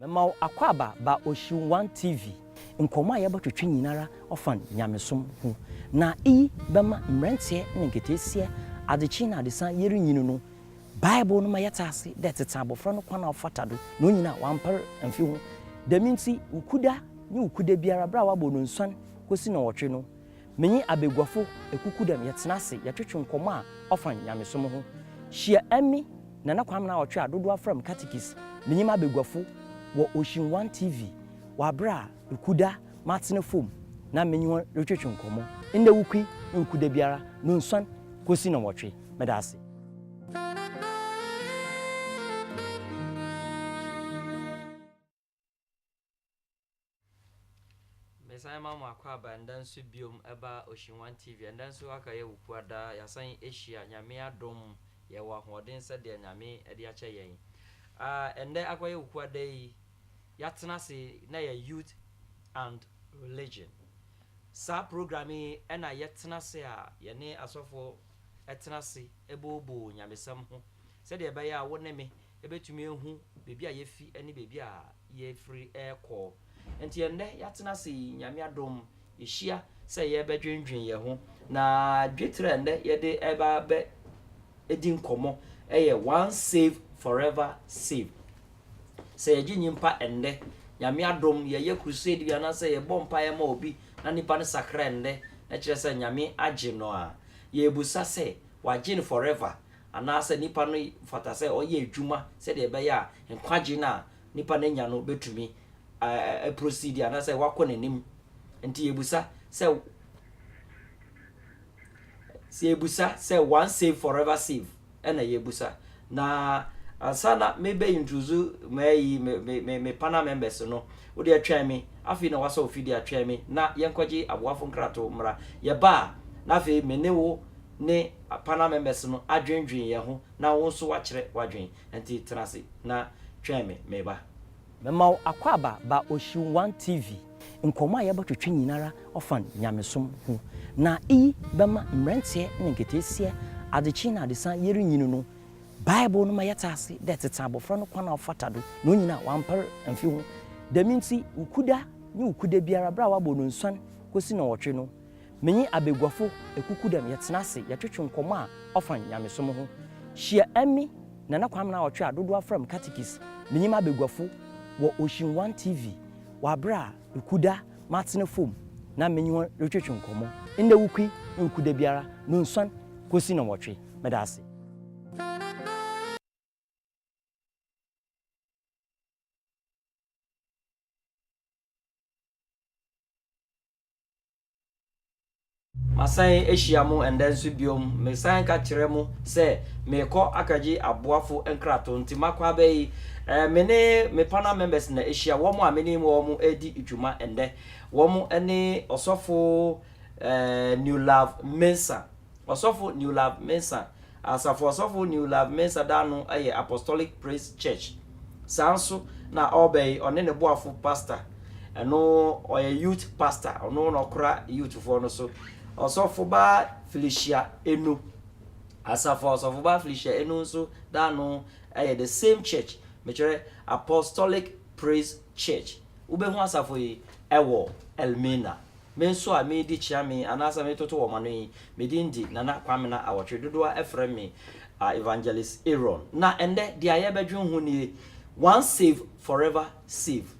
Mema wo akwaaba ba Ocean One TV. Nkɔmmɔ a yɛbɔtwetwe nyinara ɔfa Nyamesom ho. Na iyi bɛma mberantsɛ na nketeesia adzekyee na adesã yerinyin no, Bible no ma yɛtse ase dɛ tsetse abofra no kwan a ɔfata do na onyin a ɔammper mmfi ho. Dɛm ntsi, Wukuda nye Wukuda biara ber a wɔabɔ no nsuan kosi nnɔnwɔtwe no, Me nye abaguafo ekuku dɛm yɛtsena ase yɛtwetwe nkɔmbɔ a ɔfa nyamesom ho. Hyia emi, Nana Kwamena a ɔtwe a dodow afrɛ me Katikis, menye m'abaguafo wɔ Ocean One TV wɔ aber a ekuda matsena famu na menye hɔn rotwetwe nkɔmbɔ. Ndɛ wukui nnku da biara Nonsuan kosi Nɔnwɔtwe. Meda ase. Mesan ma mo akwaaba ndɛ nso biom ɛba Oshinwan TV ɛndɛ nso aka yɛ wo kua daa yasan ahyia Nyame adom yɛ wɔ ahoɔden sɛdeɛ Nyame ɛde akyɛ yɛn aa ɛndɛ akɔ yɛ wo kua da yi yatena se na yɛ youth and religion saa program yi ɛna yɛtena se a yɛne asɔfoɔ ɛtena se ɛboboo Nyamesɛm ho sɛdeɛ ɛbɛyɛ a wo ne me Yɛbɛtumi ahu baabi a yɛafi ne baabi a yɛrefiri rekɔ. Enti ɛnnɛ yɛatena ase yi, Nyame adom, yɛhyia sɛ yɛrebɛdwendwen yɛn ho. Na dwetrɛ a ɛnnɛ yɛde reba abɛdi nkɔmmɔ yɛ Once Saved, Forever Saved. Sɛ yɛgye nyimpa ɛnnɛ, Nyame adom, yɛyɛ crusade bi anaasɛ yɛbɔ mpaeɛ ma obi na nipa no sakra ɛnnɛ, na kyerɛ sɛ Nyame agye no a, yɛrebusa sɛ, Wagye no forever? anaasɛ nipa no fata sɛ ɔyɛ adwuma sɛdeɛ ɛbɛyɛ a nkwagye no a nipa no anya no bɛtumi aprosidi anaasɛ wakɔ n'anim. Nti yɛbusa sɛ sɛ yɛbusa sɛ one save forever save ɛna yɛbusa. Na ansa na mebɛ introduce mɛyi me, me, me, me panel members no, wode atwɛn me, afei na wasɔ ofidie atwɛn me na yɛnkɔgye aboafo nkrato mmra. Yɛba a, na afei me ne wo ne panel members no adwendwen yɛn ho na wo nso woakyerɛ w'adwene. Ɛnti tena ase na twɛn me meba. Mema wo akwaaba ba Ocean One TV. Nkɔmmɔ a yɛbɔ twetwe nyinara ɔfa nyamesom ho. Na iyi bɛma mbrantseɛ na nketeesiɛ, adzekyee na adesã yerinyin no, Bible no ma yɛtse ase dɛ tsetse abɔfra no kwan a ɔfata do na onyin a ɔammper mmfi ho. Dɛm ntsi, wo kuda nye wo kuda biara ber a wɔabɔ no nsuan kosi nnɔnwɔtwe no, Me nye abaguafo ekuku dɛm yɛtsena ase yɛtwetwe nkɔmbɔ a ɔfa nyamesom ho. Hyia emi, Nana Kwamena a ɔtwe a dodow afrɛ me Katikis, menye m'abaguafo wɔ Ocean One TV wɔ aber a ekuda matsena famu na menye hɔn rotwetwe nkɔmbɔ. Ndɛ wukui nnku da biara nunsuan kosi nɔnwɔtwe. Meda ase. Masan ahyia mo ɛndɛ nso biom. Mesan ka kyerɛ mo sɛ merekɔ akɔgye aboafo nkrato, nti makɔ abɛ yi, eh, me ne me panel members na ahyia, wɔn a me ne wɔn redi dwuma ɛndɛ. Wɔn ne Ɔsɔfo, eh, Newlove Mensah. Ɔsɔfo Neulav Mensah, Asafo Ɔsɔfo Neulav Mensah da ano yɛ Apostolic Praise Church. Saa nso na ɔreba yi ɔne ne boafo pasta. Ɛno ɔyɛ youth pasta, ɔno na ɔkora youthfoɔ no so. Ɔsɔfobaa Felicia Enu, Asafo Ɔsɔfobaa Felicia Enu nso da ano yɛ the same church, mekyerɛ Apostolic Praise Church. Wobɛhu asafo yi wɔ Elmina. Me nso a meredi kyea me yi anaasɛ meretoto wɔn ano yi, me din de Nana Kwamena Awɔtwe. Dodoɔ ara frɛ me Evangelist Aaron. Na ɛnnɛ, deɛ a yɛrebɛdwene ho nie, Once saved, forever saved.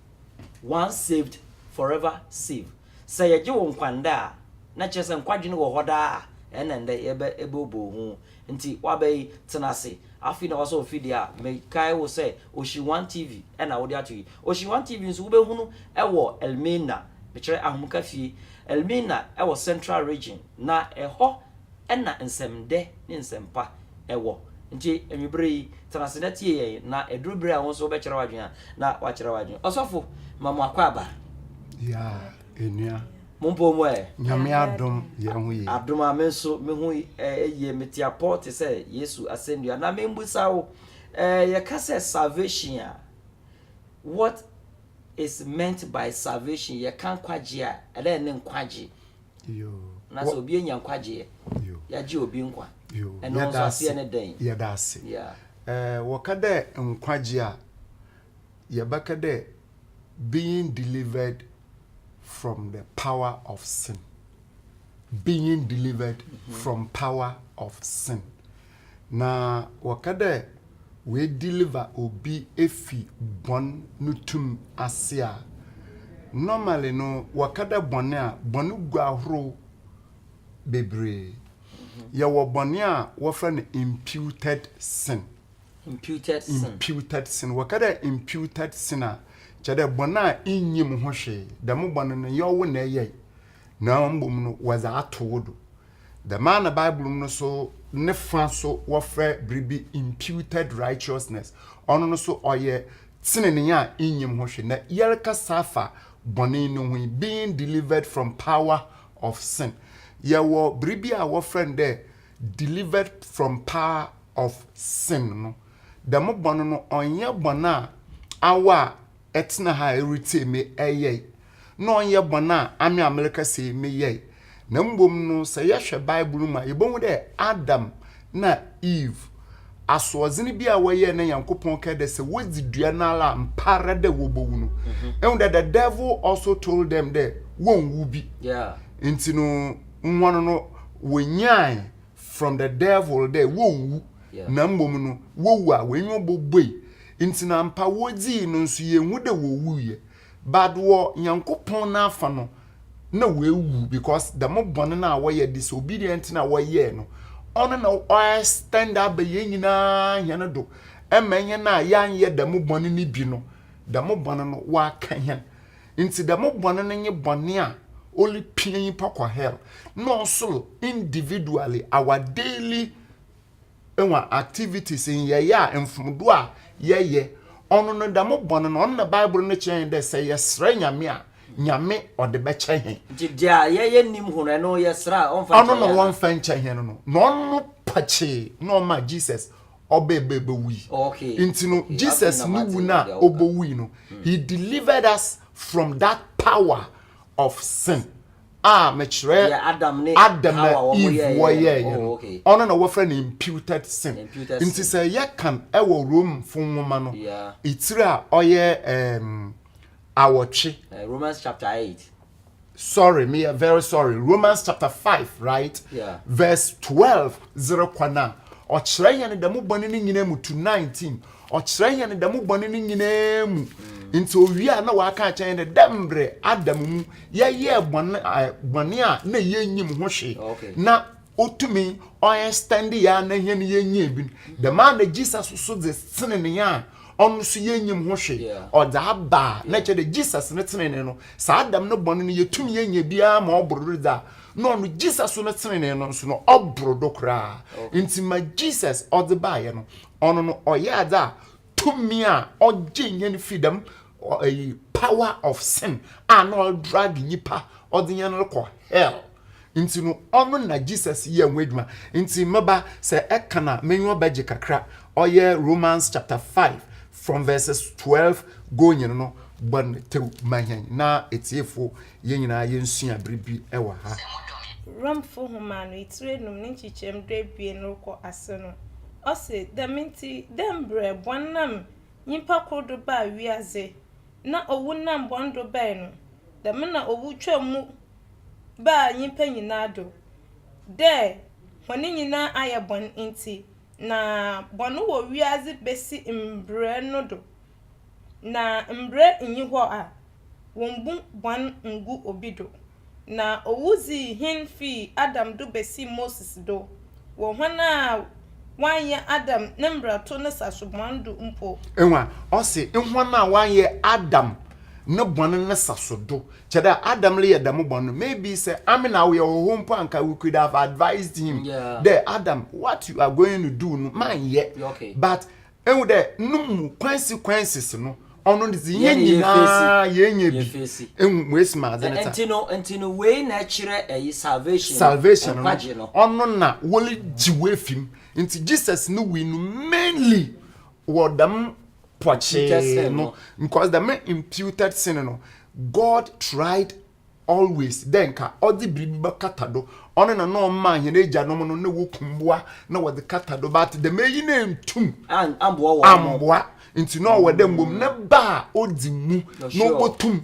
Once saved, forever saved. Sɛ yɛgye wo nkwa nnɛ a, na kyerɛ sɛ nkwadwene wɔ hɔ daa a, ɛnna ɛnnɛ yɛbɛbooboo ho. Nti waba yi, tena ase. Afei na wasɔ mfidie a me kae wo sɛ Oshi One TV na wode ato yi. Oshi One TV nso wobɛhunu wɔ Elmina, mekyerɛ Ahomka fie, Elmina wɔ Central Region, na ɛhɔ na nsɛmdɛ ne nsɛmpa wɔ. Nti anwuberɛ yi, tena ase na tie yɛn, na ɛduru berɛ a wo nso wobɛkyerɛ w'adwene a, na woakyerɛ w'adwene. Ɔsɔfo, ma mo akwaaba. Yeah, ɛnua. Mo mpo mo ɛ? Nyame adom yɛn ho yie. Adom a me nso me ho yie me te apɔ te sɛ Yesu asɛnnua. Na membusa wo, eh, yɛka sɛ salvation a, what is meant by salvation? Yɛka nkwagye a, ɛdɛ ɛne nkwagye. Yo. Na sɛ obi anya nkwagyeɛ, yɛagye obi nkwa. Yo. Ɛno nso aseɛ ne dɛn? Yɛda ase. Yeah. Eh, wɔka dɛ nkwagye a, yɛbɛka dɛ being delivered from the power of sin being delivered mm -hmm. from power of sin na wɔka dɛ wɔadeliver obi efi bɔn no tum ase a normally no wɔka dɛ bɔne a bɔne gu ahorow bebree yɛwɔ bɔne a wɔfrɛ no imputed sin Imputed sin. Imputed sin. Wɔka dɛ imputed sin a, kyerɛ dɛ bɔn a innyim ho hwee. Dɛm bɔn no, nnyɛ wo na eyɛe, na mbom no wɔdze ato wo do. Dɛm ara na Bible mu no so ne fã so wɔfrɛ biribi imputed righteousness. Ɔno no so ɔyɛ tsenenee a innyim ho hwee. Na yɛrekasa afa bɔn no ho yi, being delivered from power of sin. Yɛwɔ biribi a wɔfrɛ no dɛ delivered from power of sin no dɛm bɔn no ɔnnyɛ bɔn a awa a ɛtsena ha a eritsie me yɛe na ɔnnyɛ bɔn a ame a merekasa yi meyɛe na mbom no sɛ yɛhwɛ Bible no mu a yebohu dɛ Adam na Eve asoɔdzen bi a wɔyɛe na Nyankopɔn kɛɛ dɛ sɛ wodzi dua no ara a mpaara dɛ wobowu no mhm. ehu dɛ the devil also told them dɛ wonnwu bi ntsi no hɔn no wonyae from the devil dɛ wonwu na mbom no wowu a w'enyiwa bobue ntsi na ampa wodzii no nso yennhu dɛ wowuiɛ but wɔ Nyankopɔn n'afa no na woewu because dɛm bɔn no a wɔyɛ disobedient no a wɔyɛɛ no ɔno na ɔextend aba hɛn nyina hɛn do ma hɛn a yɛannyɛ dɛm bɔn no bi no dɛm bɔn no ɔaka hɛn Ntsi dɛm bɔn no nye bɔn a oripia nyimpa kɔ hell na ɔsor individually our daily hɔn activities, nyɛe a mfomdo a yɛyɛ, ɔno no dɛm bɔn no ɔno na Bible no kyerɛ hɛn dɛ sɛ yɛserɛ Nyame a Nyame ɔde bɛkyɛ hɛn. Ntsi dza yɛyɛ nnhim ho no ɔno yɛserɛ a ɔmmfa nkyɛ hɛn anaa? Ɔno na ɔmmfa nkyɛ hɛn no na ɔno pakyee na ɔmaa Jesus ɔbɛ bɛ bɛ wui okay. nti no okay. jesus okay. ne wu no a ɔbɔ wui no mm. he delivered us from that power of sin a mekyerɛ yeah, adam ne adam na eve wɔyɛɛyɛ no oh, okay. ɔno na wɔfrɛ no imputed sin imputed nti sɛ yɛkan ɛwɔ rome fo nwoma no yeah. ɛtiri a ɔyɛ um, awɔtwe uh, romans chapter 8 sorry me yɛ very sorry romans chapter five right yeah. verse twelve zero kwan a ɔkyerɛ yɛn dɛm bɔne no nyinaa mu to nineteen ɔkyerɛ yɛn dɛm bɔne no nyinaa mu mm. nti owie a na waka akyɛn yɛn dɛ mbrɛ adam mu yɛyɛ bɔne bɔne a na yɛnyim ho hwee na otumi ɔyɛ standi yɛ a na yɛn yɛnyɛ bi dɛm a na jesus so de sene ne yɛn a ɔno so yɛnyim ho hwe ɔdze aba a na kyɛ dɛ jesus ne tsenenee no saa dɛm no bɔne no yɛtumi yɛnya biara ma ɔboro do dza na ɔno jesus so no tsenenee no nso no ɔboro do koraa nti ma jesus ɔdze baayɛ no ɔno no ɔyɛ adze a tumi a ɔgye hɛn fi dɛm power of sin a na ɔdrag nyipa ɔdze hɛn no kɔ hell Nti no ɔno na Jesus yɛɛ ho edwuma. Nti me ba, sɛ eka na m'enyiwa bɛgye kakra, ɔyɛ Romans chapter five from verses twelve going no, bɔ no tsew ma hɛn na etsiefo hɛn nyina yensua biribi wɔ ha. Romfo Nwoma no etsir enum ne nkyekyɛm du ebien rokɔ ase no, ɔse, Dɛm ntsi, dɛ mbrɛ bɔn nam nyimpa kor do baa wiadze, na owu nam bɔn do bae no, dɛm na owu twaa mu baa nyimpa nyina do, dɛ hɔn nyina ayɛ bɔn ntsi, na bɔn wɔ wiadze besi mbrɛ no do, na mbrɛ nnyi hɔ a wommbu bɔn nngu obi do, na owu dzii hen fii Adam do besii Moses do, wɔ hɔn a wɔannyɛ Adam ne mbrato ne saso bɔn do mpo. Ewa, ɔse, hɔn a wɔannyɛ Adam ne bɔn ne saso do. Kyerɛ dɛ, Adam reyɛ dɛm bɔn no, maybe sɛ ame na ɔyɛ hɔho mpo a anka we could have advised him dɛ, Adam, what you are going to do no, ma nnyɛ. But ehu dɛ no mu consequences no ɔno ne dze yɛn nyinaa yɛnyɛ bi ehu mu esi mu adze ne ta. Nti no nti no wei na ɛkyerɛ ɛyi salvation salvation no ɔno na wɔle gye wo efi mu nti Jesus ne wui no mainly wɔ dɛm pɔkyee no because dɛm imputed sin no God tried always dɛ nka ɔdze biribi bɛkata do, ɔno na nna ɔmaa hɛn egyanom no nna woku mbowa na wɔdze kata do but dɛm eyi no enntum ammboa ntsi na ɔwɔ dɛ mbom ne ba a odzi mu na obotum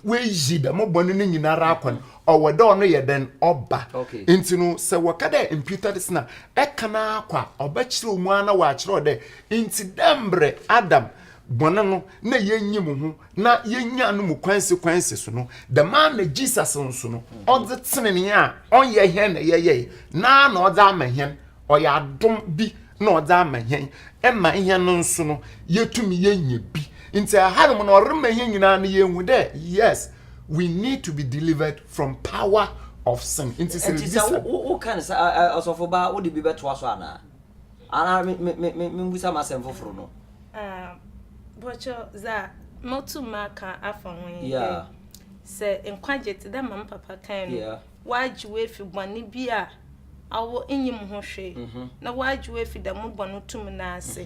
oeyi dɛm bɔn no nyinara akwa no ɔwɔ dɛ ɔno yɛ dɛn ɔba ntsi no sɛ wɔka dɛ mputer sin a ɛka no ara kɔ a ɔbɛkyerɛw mu ara na ɔakyerɛw dɛ ntsi dɛ mbrɛ Adam bɔne no na yɛnyi mu ho na yɛnya no mu consequences no dɛm a na jesus nso no ɔdze tsenenee a ɔnyɛ hɛn na yɛyɛe na na ɔdze ama hɛn ɔyɛ adom bi na ɔdze ama hɛn ɛma hɛn no nso no yɛtumi yɛnya bi nti ɛhanom no ɔrema hɛn nyinaa no yɛhu dɛ yes we need to be delivered from power of sin nti sɛ nti sɛ woka no sɛ ɔsɔfo baa wode bi bɛtoa so anaa anaa membusa m'asɛm foforo no bɔkyɛ dza motum maka afa ho nye dɛ sɛ nkwagye tse dɛ ma me papa kae no wɔagye wo efi bɔn bi a awo inyim ho hwee mhm. na wɔagye wo efi dɛm bɔn tum no ase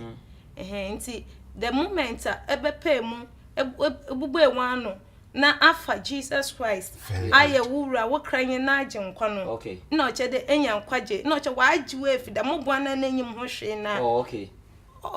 mhm. ntsi the moment a ebɛpɛɛ mu ebubue w'ano na afa jesus christ ayɛ wo wura wo kra nye n'agye nkwa no na ɔkyɛ dɛ enya nkwagye na ɔkyɛ wɔagye wo efi dɛm bɔn no a n'enyim ho hwee no a oh,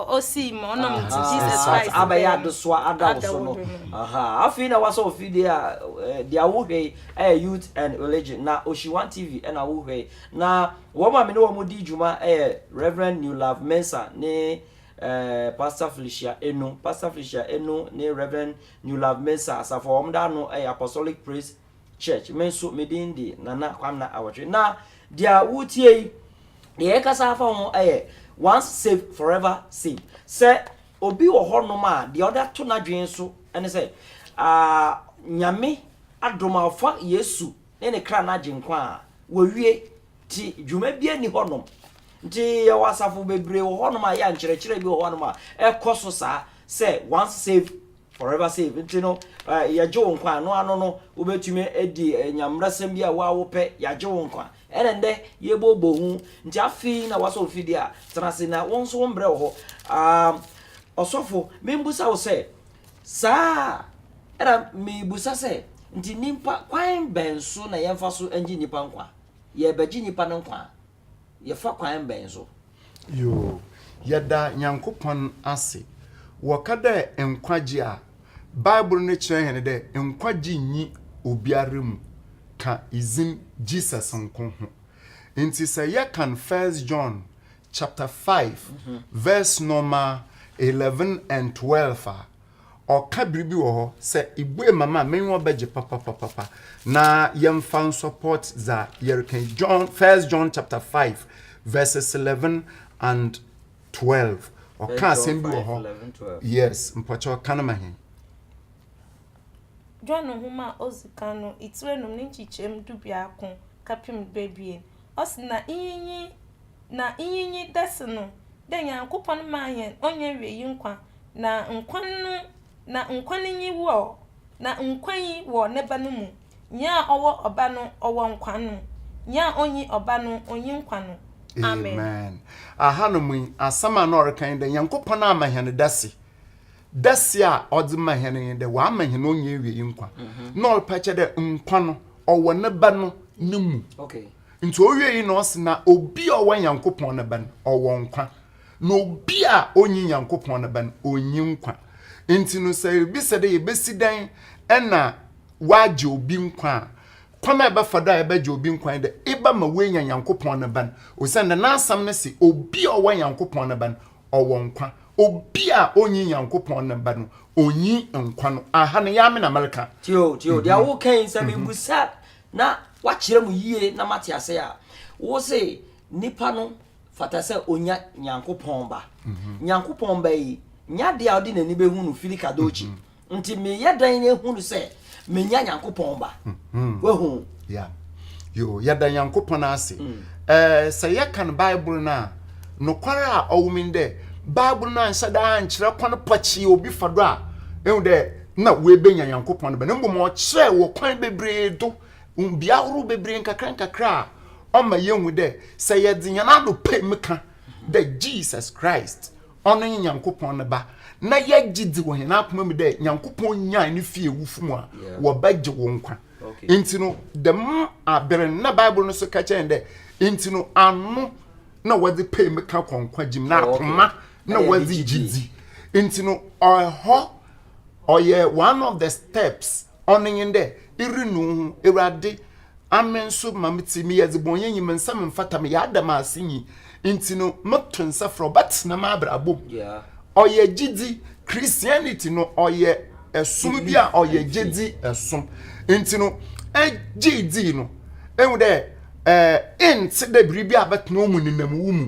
osii ma ɔnam nti Aha, Jesus Christ asase abɛyɛ bɛyɛ adesoa ada wo so no adawɔhwɛ no. Aha, afei na wasɔ ofidie a eh, deɛ wohwɛ yi ɛyɛ youth and religion na oshiwan tv ɛna wohwɛ yi na wɔn a me ne wɔn di dwuma ɛyɛ reverend new love mensa ne eh, pastor felicia enu pastor felicia enu ne reverend new love mensa asafo a wɔn da ano ɛyɛ apostolic praise Church. Me nso me din de Nana Kwamina Awotwe. Na deɛ woretie yi, deɛ yɛkasa afa ho yɛ once saved forever saved. Sɛ obi wɔ hɔnom a deɛ ɔde ato n'adwene so ne sɛ Nyame adom a ɔfa Yesu ne ne kra no agye nkwa a wɔwie nti dwuma bi ani hɔnom. Nti yɛwɔ asafo bebree wɔ hɔnom a yɛ a nkyerɛkyerɛ bi wɔ hɔnom a ɛkɔ so saa sɛ once saved Forever Safe nti no, yɛgye wo nkwa a, ɛno ano no, wobɛtumi adi nyammerɛsɛm bi a wo ara wopɛ, yɛagye wo nkwa. Ɛna ɛnnɛ, yɛbɔɔbɔ hu, nti afei na woasɔ mfidie a, tena ase na wo nso wo mbrɛ wɔ hɔ. Aah, ɔsɔfo, membusa wo sɛ, saa a, ɛna mebusa sɛ, nti nnipa, kwan bɛn so na yɛmfa so ngye nnipa nkwa? Yɛrebɛgye nnipa no nkwa a. yɛfa kwan bɛn so? Yoo, yɛda Nyankopɔn ase. Wɔka dɛ nkwagye a, Bible no kyerɛ hɛn dɛ nkwagye nnyi obiara mu, ka dzin Jesus nko ho. Ntsi sɛ yɛkan First John chapter five verse nɔma eleven and twelve a, Ɔka biribi wɔ hɔ sɛ ibue ma me a m'enyiwa bɛgye papapapapa. Na yɛmfa nsɔpɔɔt dza yɛreka yi, John, First John chapter five verses eleven and twelve. Ɔka asɛm bi wɔ hɔ. Yes, mpɔkyɛw ka no ma hɛn. John nwoma a odzi kan no itsir enum ne nkyekyɛmu dubiako kɛpem duebien, ɔse, Na iyi nye. na iyi nye dase no, dɛ Nyankopɔn maa hɛn onnyiewiei nkwa, na nkwa no na nkwa no nye wɔ, na nkwa yi wɔ ne Ba no mu, nyia ɔwɔ Ɔba no ɔwɔ nkwa no, nyia onnyi Ɔba no onnyi nkwa no. Amen. Amen. Ahanom yi, asɛm a nna ɔreka nye dɛ Nyankopɔn ama hɛn dase. Dase a ɔdze ma hɛn nye dɛ ɔama hɛn onnyiewiei nkwa. Nna ɔrepa kyɛ dɛ nkwa no ɔwɔ ne Ba no no mu. Nti owie yi na ɔse na obi a ɔwɔ Nyankopɔn ne ba no, ɔwɔ nkwa. Na obi a ɔnyi Nyankopɔn ne ba no, ɔnyi nkwa. Nti no sɛ yɛbisa dɛ yɛbɛsi dɛn na wɔagye obi nkwa a, kwan a ɛbɛfa do a yɛbɛgye obi nkwa ne dɛ, eba ma woenya Nyankopɔn ne ba no. Osiandɛ n'asɛm no se, obi a ɔwɔ Nyankopɔn ne ba no, ɔwɔ nkwa. Obi a ɔnyi Nyankopɔn ne ba no, ɔnyi nkwa no. Aha no, yɛ ara me na mereka. Tio, tio, deɛ woka yi, sɛ mebisa na woakyerɛ mu yie na moate ase a, wo se nipa no fata sɛ ɔnya Nyankopɔn ba. Mhm. Nyankopɔn ba yi, nyɛ adeɛ a ɔde n'ani bɛhu no fili kadookyi. Mhm. Nti meyɛ dan no ɛhu no sɛ menya Nyankopɔn ba. Mhm. Wahu? Yeah. Yo, yɛda Nyankopɔn ase. Mm. Eh, sɛ yɛka no Bible no a, nokware a ɔwom dɛ Bible no anhyɛ da ankyerɛ kwan pɔkyee obi fa do a, ehu dɛ na woebenya Nyankopɔn ne ba no, mbom ɔkyerɛɛ wɔ kwan beberee do, mbea ahorow beberee nkakrankakra a ɔma yehu dɛ sɛ yɛdze hɛn adɔpɛ mu kã dɛ Jesus Christ, ɔno nye Nyankopɔn ne Ba, na yɛgye dzi wɔ hɛn akoma mu dɛ Nyankopɔn nyaan no fii ewufo mu a, wɔbɛgye wo nkwa. Ntsi no, dɛm aber no, nna Bible no so ka kyerɛ hɛn dɛ, Ntsi no, ano na wɔdze pɛ mu kã kɔ nkwagye mu, na akoma na wɔdze gye dzi. Ntsi no, hɔ ɔyɛ one of the steps ɔno nye dɛ eri no ho ewurade ame nso ma me ti meyɛ dzebɔnyɛ nyi me nsa me mfata meyɛ adam ase nyi nti no me to nsa frɛ ɔbɛtsena m'abrabɔ mu ɔyɛ gyedzi christianity no ɔyɛ ɛsom bi a ɔyɛ gyedzi ɛsom nti no ɛgye dzi no ehu dɛ ɛɛ eh, ntse dɛ biribi a bɛtena ɔmu nenam wo mu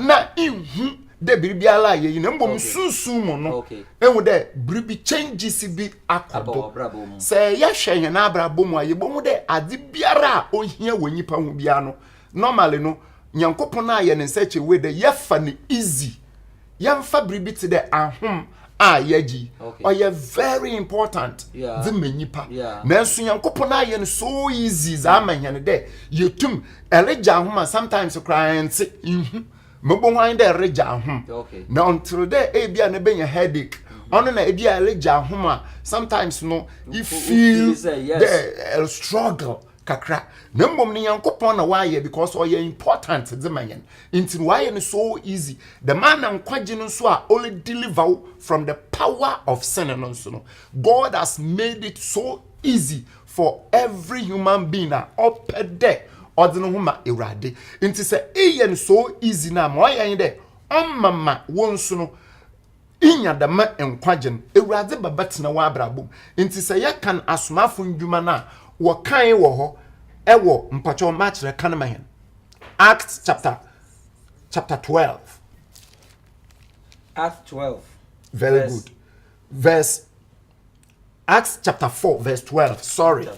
na nhu dɛ biribiara yɛ yi na mbom sunsum mu no ehu dɛ biribi changes bi akɔ do. Sɛ yɛhwɛ hɛn abrabɔ mu a, yebohu dɛ adze biara a ohia wɔ nyimpa ho biara no, normally no, Nyankopɔn ayɛ ne nsa kyɛ wei dɛ yɛfa no easy. Yɛmfa biribi tse dɛ ahom a yɛgye yi, ɔyɛ very important dze ma nyimpa. Nanso Nyankopɔn ayɛ no so easy dze ama hɛn dɛ yetum, eregye ahom a, sometimes koraa enntse, innhu. Mebohu ahe dɛ eregya ahom, na ɔnnkyerɛ dɛ ebia na ebenya headache. Mm-hmm. Ɔno na ebia eregya ahom a, sometimes no, you feel dɛ eh, struggle kakra. Na mbom no Nyankopɔn na ɔayɛ because ɔyɛ important dze ma hɛn. Ntsi no ɔayɛ no so easy. Dɛm ara na nkwagye no nso a ɔredeliver wo from the power of sin no nso no, God has made it so easy for every human being a ɔpɛ dɛ ɔdze no ho ma Ewuradze. Ntsi sɛ eyɛ no so easy no a, ma ɔyɛ nye dɛ ɔma ma wo so no inya dɛm nkwagye no. Ewuradze bɛbɛtsena w'abrabɔ mu. Ntsi sɛ yɛkan Asomafo Ndwuma no a, wɔkãe wɔ hɔ wɔ, mpakyɛw makyerɛ, kan ma hɛn Acts chapter chapter twelve. Acts twelve. Very good. Verse. Acts chapter four verse twelve sorry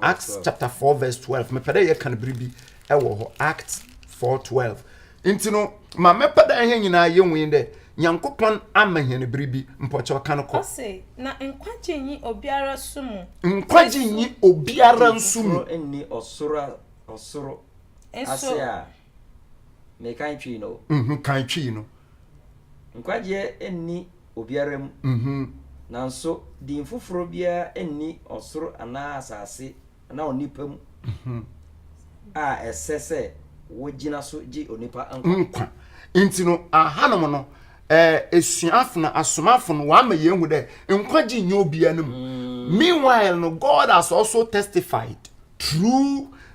Acts chapter four verse twelve mepɛ dɛ yɛ kan biribi ɛwɔ hɔ Acts four twelve nti no ma mɛpɛ dɛ yɛn nyinaa yɛ nwin dɛ nyankopɔn ama yɛn biribi mpɔkyɛw kan kɔ. Ɔse na nkwagye nyi obiara nso mu. Nkwagye nyi obiara nso mu. Nso foforo nni ɔsoro a ɔsoro ase a. Me kan twi no. Mhm, kan twi no. Nkwagyeɛ nni obiara mu. Mhm. Nanso din foforɔ biara nni ɔsoro anaa asase anaa onipa mu mhm. a ɛsɛ sɛ wogyina so gye onipa nkwa. Nkwa. Nti no, ahanom no, esuafo no, asomafo no, wɔama yɛn hu dɛ nkwagye nyɛ obiara no mu. Mm. Meanwhile no, God has also testified through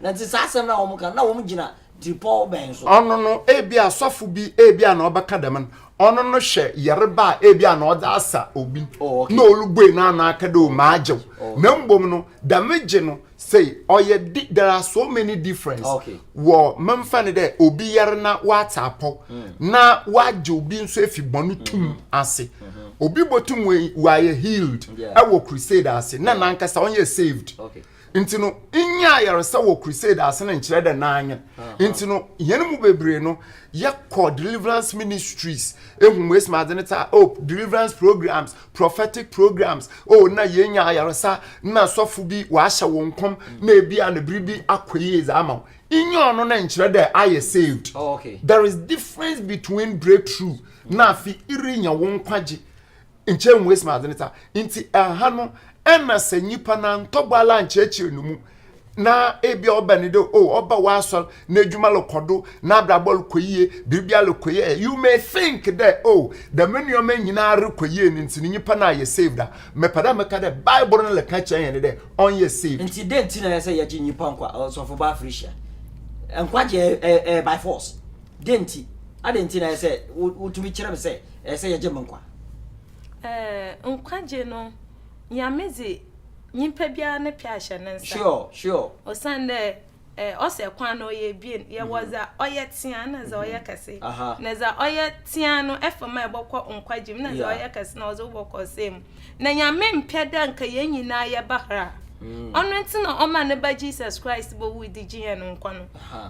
Na te saa asɛm no a wɔka no, na wɔgyina tiripɔw bɛn so? Ɔno no, ebia asɔfo bi, ebia na ɔbɛka dɛm no, ɔno no hwɛ yarba a ebia na ɔdze asa obi no, Oh, okay. na orubue n'ano aka dɛ, Oh, magye wo. Oh, okay. Na mbom no, dɛm gye no, sei, ɔyɛ di, there are so many difference Okay. wɔ, memfa no dɛ obi yar na ɔatse apɔw, na ɔagye obi nso efi bɔn tum mm-hmm. ase. Mm-hmm. Obi botum oe, ɔayɛ healed Yeah. wɔ crusade ase, na Yeah. nankasa ɔnnyɛ saved. Okay. Nti no, nnya ayaresa wɔ crusade ase no nkyerɛ dɛ n'anyen. Nti no, hɛn mu beberee no, yɛkɔ deliverance ministries, ehu mu esimadze no tse a, oh, deliverance programs, prophetic programs, oh, nna yeenya ayaresa, nna sɔfo bi ɔahyɛ wo nkɔm, na bi a na biribi akɔ yie dze ama wo. Nnya ɔno no nkyerɛ dɛ ayɛ saved. There is difference between breakthrough na afi irenya wo nkwagye. Nkyɛ nnhu esi ma adze ne saa. Ntsi ha no, nna sɛ nyimpa no anntɔ bɔ ara annkyerɛkyerɛ no mu na ebi a ɔbɛn no dɛ, oh, ɔba w'asɔr, n'edwuma rokɔ do, n'abrabɔ rokɔ yie, biribiara rokɔ yie ɛ, you may think dɛ, oh, dɛm nneɛma nyina rokɔ yie no ntsi no nyimpa no ayɛ saved a, mepɛ dɛ meka dɛ Bible no rekã kyerɛ hɛn dɛ ɔnnyɛ saved. Ntsi dɛn ntsi na ɔyɛ sɛ yɛgye nyimpa nkwa? Ɔsɔfobaa Felicia, nkwagye ɛ, ɛ, ɛ, by force. Dɛn ntsi? Adɛn ntsi na ɔyɛ sɛ wotumi kyerɛ me sɛ Ɛyɛ sɛ yɛgye mo nkwa. Ɛɛ nkwagye no Nyame dze nyimpa biara ne pɛ ahyɛ ne nsa. Sure sure. Osiandɛ ɛɛ ɔsɛ kwan no ɔyɛ ebien, yɛwɔ dza ɔyɛ tseaa na dza ɔyɛ kɛse. Na dza ɔyɛ tseaa no ɛfa mu a ebɔkɔ nkwagye mu na dza ɔyɛ kɛse no ɔdze wo bɔkɔ ɔsɛɛ mu. na Nyame mmpɛ dɛ nka hɛn nyina yɛba har a. Ɔno ntsi na Ɔmaa Ne Ba Jesus Christ bowui dze gye hɛn nkwa no.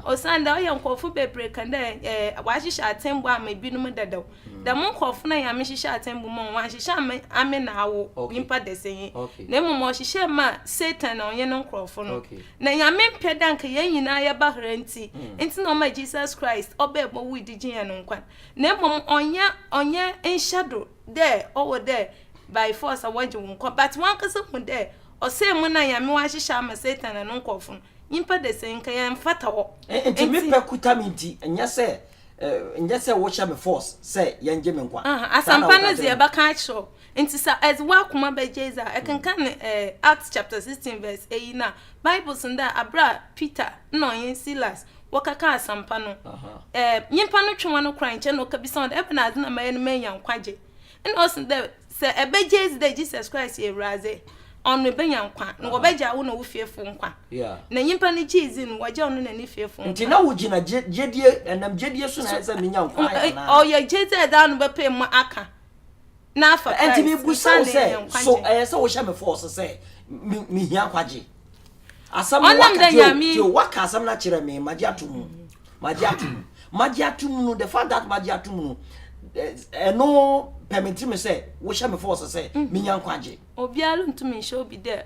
Osiandɛ ɔyɛ nkorɔfo beberee kã dɛ Ɔahyehyɛ atsɛmbu ama binom dadaw. Dɛm nkorɔfo no a Nyame hyehyɛɛ atsɛmbu ma hɔn, Ɔannhyehyɛ amma ame na awo, nyimpa dɛsɛnyi, na mbom Ɔhyehyɛɛ maa Satan na ɔnye no nkorɔfo no. Na Nyame mmpɛ dɛ nka hɛn nyina yɛba har ntsi, ntsi na Ɔmaa Jesus Christ ɔbae bowui dze gye hɛn nkwa. Na mbom ɔnnyɛ ɔnnyɛ nhyɛdo dɛ ɔwɔ dɛ by force wɔgye wo nkwa, but wankasa hu dɛ ɔsɛɛ mu no a Nyame ɔahyehyɛ ama Satan na no nkorɔfo no, nyimpa de sɛ nka yɛmmfata hɔ. Ntsi me pɛ kuta me ntsi, nnyɛ sɛ nnyɛ sɛ wohyɛ me force sɛ yɛngye me nkwa. Aha, asɛmpa no dze yɛbɛka akyerɛ wo, ntsi sɛ edze w'akoma bɛgye dze a, kenkan Acts chapter sixteen verse eyi no a, Bible se dɛ aber a Peter na ɔnye Silas wɔkɛkaa asɛmpa no, nyimpa no twe hɔn koraa nkyɛn na ɔkebisa hɔn dɛ, Ebɛnadze na mɛyɛ na meenya nkwagye? Nna ɔse dɛ, Sɛ ebɛgye edzi dɛ Jesus Christ yɛ Ewuradze, ɔno ebenya nkwa, na wɔbɛgyaa wo na wo fiefo nkwa. Na nyimpa no gyee dzii no wɔgyaa ɔno na ne fiefo nkwa. Ntsi na wogyina gyedie, ɛnam gyedie so na ɛsɛ sɛ menya nkwa anaa? Ɔyɛ gyedzi a ɛdze ano bɛpae mu aka na afa Christ Enti mebusa wo sɛ, so ɛyɛ sɛ wohyɛ me fɔɔso sɛ mehia nkwagye? Asɛm no waka tio, waka asɛm no akyerɛ me, magye ato mu, magye ato mu, magye ato mu no, the fact that magye ato mu no, ɛno pɛ me ntiri me sɛ wohyɛ me fɔɔso sɛ mm. menya nkwagye. Obiara ntumi nhyɛ obi dɛ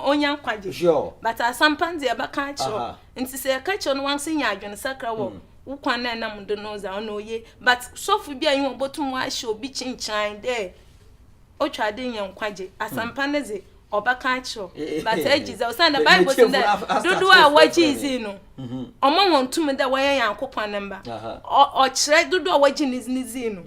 onya nkwagye. Sure. But asampa nti ɛbɛka akyerɛ Ntsi sɛ yɛka kyerɛ no wankasa nya adwensakra wɔ wo kwan a enam do no dza ɔno oye. But sɔfo bi a nye obotum ɔahyɛ obi kyenkyerɛn dɛ otwar dɛ inya nkwagye. Asɛmpa no dze ɔbɛka akyerɛ wo but egye dza osiandɛ Bible se dɛ dodow a wɔgyee dzin no ɔma hɔn tum dɛ wɔyɛ Nyankopɔn ne mba. Ɔ ɔkyerɛ dodow a wɔgye ne dzin no.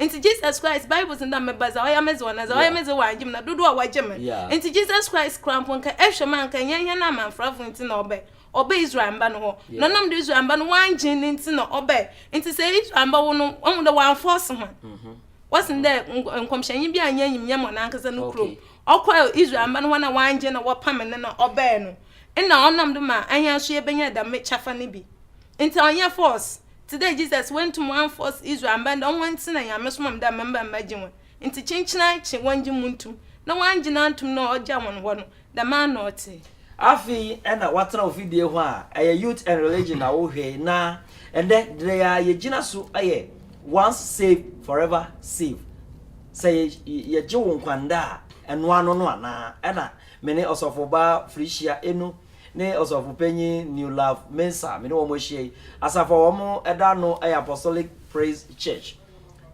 Ntsi Jesus Christ, Bible dze nda meba dza ɔyɛ me dze wɔ na dza ɔyɛ me dze wɔ anngye me na dodow a wɔagye me. Ntsi Jesus Christ kura mpo nka ehwɛ mu a nka nnyɛ hɛn amamfrafo ntsi na ɔbae, ɔbae Israelmba no hɔ. Na ɔnam do Israelmba no wɔanngye no ntsi na ɔbae. Ntsi sɛ Israelmba wo no, ohu dɛ wɔammforce hɔn. Wɔse dɛ nkɔmhyɛnyi bi annya enyimnyam wɔ nankasa no kurom, ɔkɔr Israelmba no hɔn a wɔanngye na wɔpamee no na ɔbae no, nna ɔnam do ma hɛn so yebenya dɛm kyɛfa no bi. Ntsi ɔnnyɛ force. Tse dɛ Jesus, woenntum annforce Israelmba ndɛ ɔnwo hɔn tse na Nyame soma me dɛ mma mba mbɛgye hɔn. Ntsi kyenkyena kye wɔngye mu ntum, na wɔanngye no anntum no a ɔgyaa hɔn hɔ no, dɛmara na ɔtse. Afei na wɔatsena ofidie hɔ a ɛyɛ Youth and Religion na wohwɛe na ndɛ dea yegyina so yɛ Once saved forever saved. Sɛ yɛgye wo nkwa ndɛ a, ɛnoa no no anaa? Ɛna me ne Ɔsɔfobaa Felicia Eno ne Ɔsɔfo Panyin Newlaugh Mensah, me ne wɔn ahyia yi. Asafo a wɔda ano yɛ Apostolic Praise Church.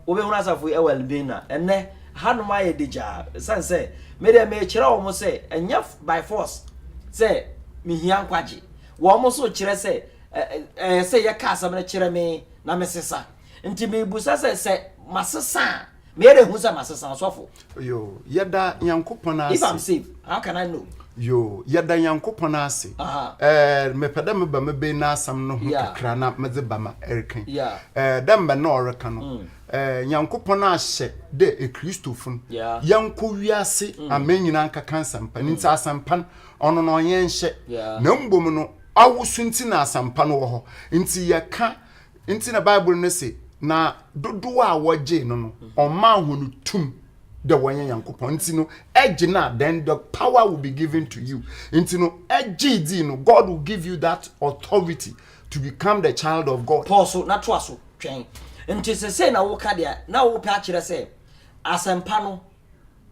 Wobɛhunu asafo yi wɔ Elmina. Ɛnnɛ, hanom ayɛ degyaa, ɛsiane sɛ me deɛ merekyerɛ wɔn sɛ ɛnyɛ by force sɛ mehia nkwagye. Wɔn nso kyerɛ sɛ ɛyɛ sɛ yɛka asɛm no kyerɛ me na mesesa. Nti merebisa sɛ, sɛ masesa a, Meyɛ dɛ hu sɛ masesa ɔsɔfo. Yo, yɛda Nyankopɔn ase. If I'm saved, how can I know? Yo, yɛda Nyankopɔn ase. Eh, mepɛ dɛ meba mebɛn n'asɛm no ho kakra na medze ba ma ɛrekan. Eh, dɛ mbrɛ nna ɔreka no, mm. eh, Nyankopɔn ahyɛ dɛ ekristofo no, yɛnkɔ wiase mm. aman nyinaa nkɛka nsɛmpa no, mm. ntsi asɛmpa no, ɔno na ɔnyɛ nhyɛ. Na mbom no, awosu ntsi na asɛmpa no wɔ hɔ. Ntsi yɛka Nti na Bible no se, Na dodoɔ a wɔgyee no no, ɔmaa hɔn tum dɛ wɔnyɛ Nyankopɔn. Nti no, ɛgye no a, then the power will be given to you. Nti no, ɛgyee dzii no, God will give you that authority to become the child of God. Pɔw so na toa so twɛn. Nti sesei na woka dea na wopɛ akyerɛ sɛ asɛmpa no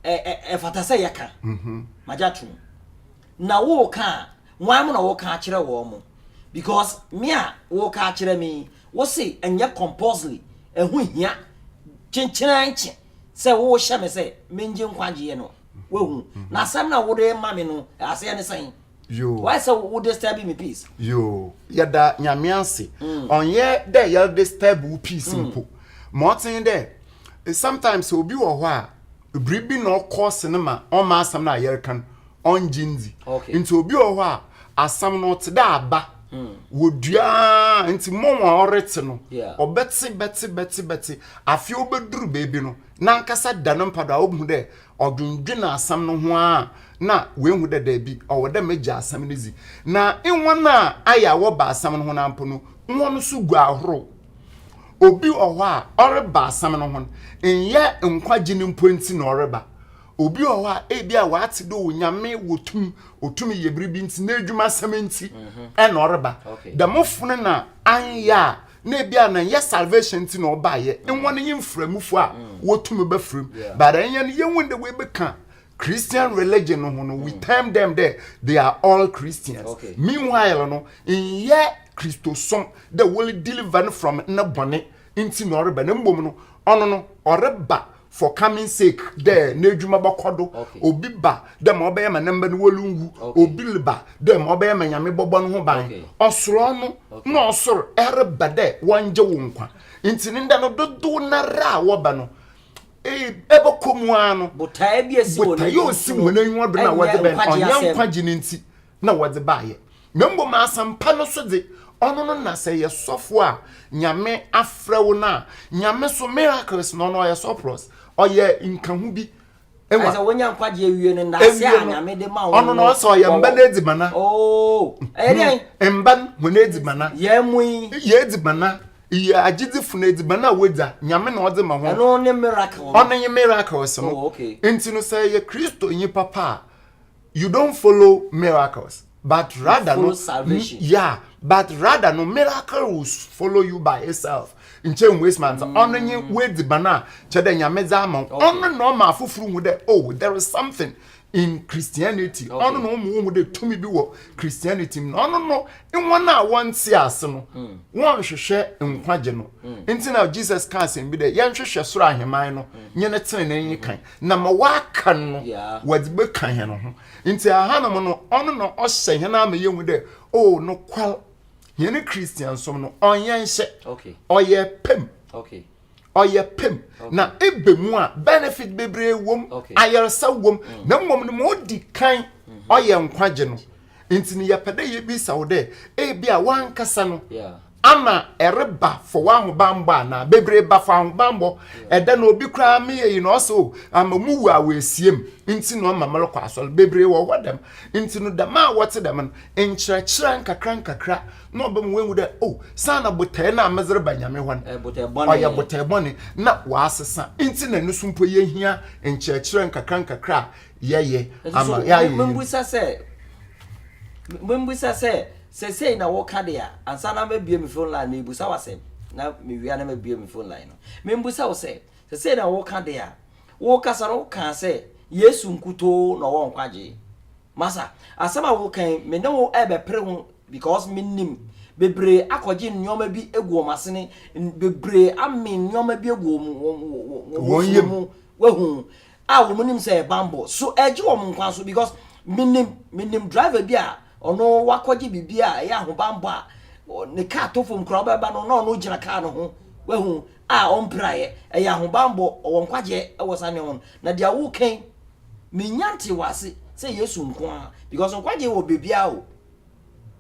ɛfata sɛ yɛka mhm. magye atom na woka a wan mo na woka akyerɛ wɔn mo because me a woka akyerɛ me wo se ɛnyɛ compulsory ɛho hia kyenkyena nkye sɛ wohyɛ me sɛ mengye nkwagyeɛ no wahu mhm. na asɛm na wode ma me no aseɛ ne sɛn Yoo. Why sɛ wo disturb me peace? Yoo. Yɛda nyame ase. Mm. Ɔnyɛ dɛ yɛ disturb wo peace mm. mpo. Ma ɔten dɛ sometimes obi wɔ hɔ a biribi na ɔkɔ sinima ɔma asɛm no a yɛreka no ɔngye ndzi. Nti obi wɔ hɔ a asɛm no ɔte dɛ aba. Mm. Wɔduaa nti mmɔ wɔn a ɔrete no ɔbɛte bɛte bɛte bɛte afei ɔbɛduru baabi no n'ankasa da no mpa do a ɔbɛhu dɛ Ɔdwendwen asɛm no ho ara na oehu dɛ dabi, ɔwɔ dɛ megye asɛm no dzi. Na hɔn a ayɛ a wɔba asɛm no ho no ara mpo no, hɔn so gu ahorow. Obi wɔ hɔ a, ɔreba asɛm no ho no, nnyɛ nkwagye no mpo ntsi na ɔreba. Obi wɔ hɔ a, bi a ɔatse dɛ Onyame wɔ tum, otum yɛ biribi ntsi, n'edwumasɛm ntsi na ɔreba. Dɛmfo no na annyɛ a, na ebia na ɛnyɛ salvation nti na ɔbaeɛ mm. nwa no yɛ mframufo a mm. wɔtumi bɛfram but ɛnyɛ no yɛhu de wɔbɛka christian religion no ho no we mm. term them dɛ they are all christians okay. meanwhile no nyɛ kristosom dɛ wɔle deliver no from ne bɔne nti na ɔreba na mmom no ɔno no ɔreba for coming sake dɛ n'edwuma bɔkɔ do obi ba dɛ ma ɔbɛyɛ ma ne mba no wɔronnwu obi lba dɛ ma ɔbɛyɛ ma nyame bɔbɔ no ho ban ɔsorɔ no na ɔsor reba dɛ wɔngye wo nkwa ntsi ne ndɛ no dodow nara a wɔba no ɛbɛkɔ mu ara no botaeɛ ɔsi wɔn anyiwa do na wɔde bɛn ɔnyɛ nkwagye no nti na wɔdze baayɛ, na mbom asɛmpa no so dze, ɔno no na sɛ eyɛ sɔfo a Nyame afrɛ wo no a, Nyame so miracles na ɔno ɔyɛ surplus, ɔyɛ nkaho bi. Ewa. Ɛsɛ wonya nkwagye ewie no ndaase a Nyame de ma wo no. Ɔno no ɔsɛ ɔyɛ mba n'edzibana. Oo, ɛyɛ dɛn? Mba no hɔn edzibana. Yɛn mu yi. Yɛ edzibana. Yɛ agyedzifo no edzibana a wodza, Nyame na ɔdze ma hɔn. Ɛno ne miracle no. Ɔno nye miracles no. Oh, okay. Ntsi no sɛ eyɛ Christonyi papa a, you don't follow miracles but you rather no salvation. yeah but rather no miracle will follow you by itself nkyɛn mu waste man ɔno nye wadi ban a kyɛ dɛ nyame dza ama ɔno na ɔma afoforo hu dɛ oh there is something in christianity ɔno na ɔma ɔhu dɛ tumi bi wɔ christianity mu na ɔno no wɔn a wɔnte ase no hmm. wɔnhwehwɛ nkwagye no hmm. nti na jesus ka asɛm bi dɛ yɛnhwehwɛ soro aheman no hmm. nye ne tenenee kan na ma wɔaka no wɔdze bɛka hɛn ho ntsi ahanom no ɔno na ɔhyɛ hɛn ama yehu dɛ o oh, nokwar hɛn christiansom no ɔnnyɛ nhyɛ ɔyɛ pɛ mu ɔyɛ pɛ mu na ebe mu a benefit bebree wom ayarsa wom mm. na mmom no ma odi kan mm-hmm. ɔyɛ nkwagye no Nti no yɛpɛ dɛ yebisa wo dɛ, ebia wankasa no, ana ɛreba fɔ w'ahobanbɔ anaa? Bebree ba fɔ ahobanbɔ. Ɛda no obi koraa me yɛ yi na ɔsɛ o, ama mu wu a w'esiam nti na ɔma merekɔ asɔr. Bebree wɔ hɔ dɛm. Nti no dɛm a wɔtse dɛm no, nkyerɛkyerɛ nkakra nkakra na ɔbɛma woehu dɛ o, saana botae no a medze reba Nyame hɔ no, ɔyɛ botae bɔne na ɔasesa. Nti na no so mpo yehia nkyerɛkyerɛ nkakra nkakra a yɛyɛ ama yɛayɛ mbusa sɛ mbusa sɛ sɛsɛi na woka de a ansa na mabue me phone line mebusa wo asɛm na mewia na mabue me phone line no membusa wo sɛ sɛsɛi na woka de a wokasa no wokaa sɛ yesu nkutoo na ɔwɔ nkwagye masa asɛm a wokan me ne wo ɛbɛpere ho because menim bebree akɔgye nneɛma bi egu wɔn asene bebree ame nneɛma bi egu wɔn wɔn wɔn wɔn mu wahu a wɔn nim sɛ yɛ bambɔ so ɛregye wɔn nkwa so because menim menim driver bi a ɔno wakɔgye biribi a ɛyɛ ahobambɔ a ne kaa to fam koraa ɔbɛba no na ɔno gyina kaa no ho wahu a ɔmpiraeɛ ɛyɛ ahobambɔ ɔwɔ nkwagyeɛ ɛwɔ saa nneɛma no na deɛ wokan menya nte wɔ ase sɛ yesu nko a because nkwagyeɛ wɔ baabiara o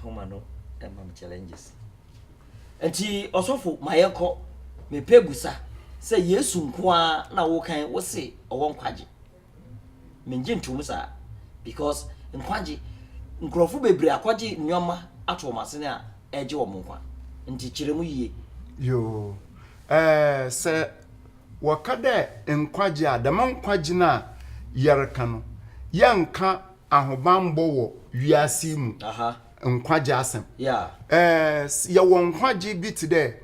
ahoma no ɛma me challenges nti ɔsɔfo ma yɛnkɔ mepɛ busa sɛ yesu nko ara na wokan wo se ɔwɔ nkwagye Menngye ntoom saa, because nkwagye, nkurɔfo bebree akɔgye nnoɔma ato wɔn asene a ɛregye wɔn nkwa. Nti kyerɛ mu yie. Yoo, ɛɛ, sɛ wɔka dɛ nkwagye a, dɛm nkwagye no a yɛreka no, yɛnnka ahobanbɔ wɔ wiase yi mu Aha, nkwagye asɛm. yeah. Ɛɛ, yɛwɔ nkwagye bi tse dɛ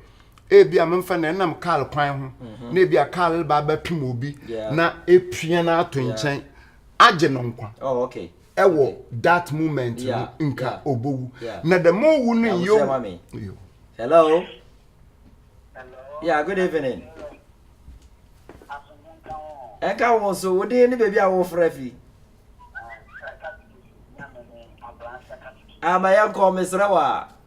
Ebia memfa no ɛnam kaal kwan ho mhm. na ebia kaal reba abɛpem obi na epia no ato nkyɛn agye no nkwa oh, ɛwɔ that moment no nka obowu na the more wu no yɛ hello yeah good evening ɛnka wo so wo din ne baabi a wofrɛ fi ama ah, yɛnkɔ mesrɛ wo a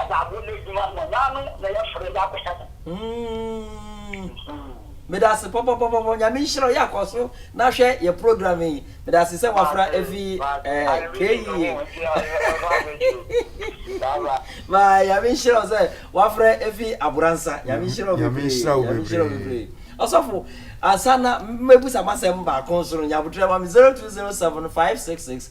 Ɛna abo no adwuma no naano na yɛfrɛ de akɔhyɛ no. Umm medase pɔpɔpɔpɔ nyame nhyira wo yɛ kɔso na hwɛ yɛ program yi medase sɛ wafra afi eh, keyie maa nyame nhyira wo sɛ wafra afi aboransa nyame nhyira wo bebree nyame nhyira wo bebree ɔsɔfo ansa na mɛbusa masɛm baako nso no nyabotrɛ ma me 0207 566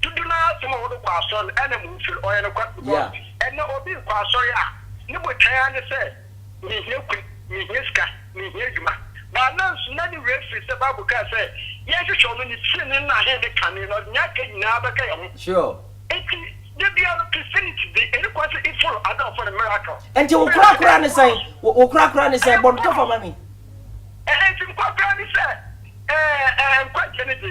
Dodow no ara som a wɔde kɔ asɔr no na munnfir. Ɔyɛ nokwar, because ndɛ obi rokɔ asɔr a, no botae ara nye sɛ, Mihia kun, mihia sika, mihia edwuma. But ana nso nna ne werɛ fir sɛ Bible kaa sɛ, Yɛnhwehwɛ Ɔno, Ne tsenenee na Ahen ne kane, na Ɔdze nyia aka nyina bɛka hɛn ho. Ntsi, da biara no, Christianity dze eri kwan sɛ ifollow adze a wɔfrɛ no miracle. Ntsi wo korakora ne sɛn? Wo korakora ne sɛn? Bɔ no tɔfa ma me. Ntsi me korakora ne sɛ, nkwagye no dze,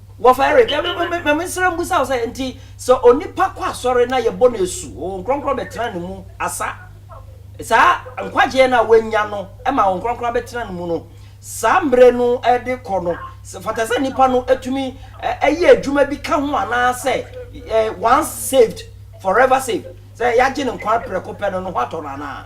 Bɔfo Eric, ma mensrɛ mmusa wo sɛ, nti sɛ onipa kɔ asɔre na yɛbɔ no asu, Honhom Kronkron bɛtena ne mu asa saa nkwagyeɛ no a wanya no ma Honhom Kronkron abɛtena ne mu no, saa mmerɛ no de kɔ no, fata sɛ nipa no tumi yɛ adwuma bi ka ho anaa sɛ once saved, forever saved, sɛ yɛagye ne nkwa prɛko pɛ no, ne ho atɔ no anaa?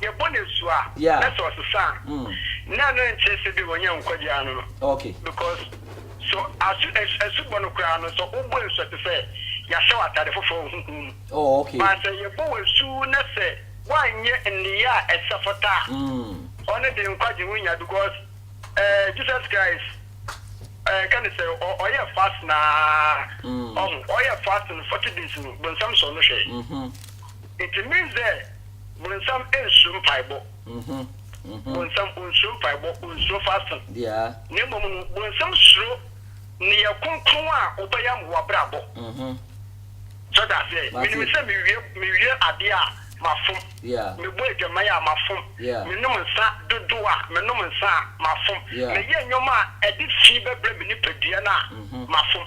yɛbɔ no asu a na sɛ ɔsesa a na ɛno nkyerɛ sɛ bi ɔnyɛ nkwagye ara no no because so asu asu bɔ no koraa no sɛ wobɔ asu a te sɛ yɛahyɛ w'atade foforɔ wɔ honhom mu but sɛ yɛbɔ wo asu na sɛ woanyɛ nneyɛ a ɛsɛ fata a ɔno de nkwagye ho nya because eh, Jesus Christ eh, ka ne sɛ ɔyɛ fast na ɔho ɔyɛ fast no 40 days no bonsam sɔ no hwɛ nti means sɛ Bonsam nsuro mpaebɔ. Bonsam onsuro mpaebɔ, onsuro fasting. Na mmom no, bonsam suro nneyɛe kronkron a wobɛyam wɔ w'abrabɔ. So ɔte aseɛ? Menim sɛ mewie, mewie adeɛ a, mafom. Mebɔ adwaman a, mafom. Menom nsa dodoɔ a, menom nsa a, mafom. Meyɛ nneɛma a ɛde fi bɛbrɛ me nipadua no a, mafom.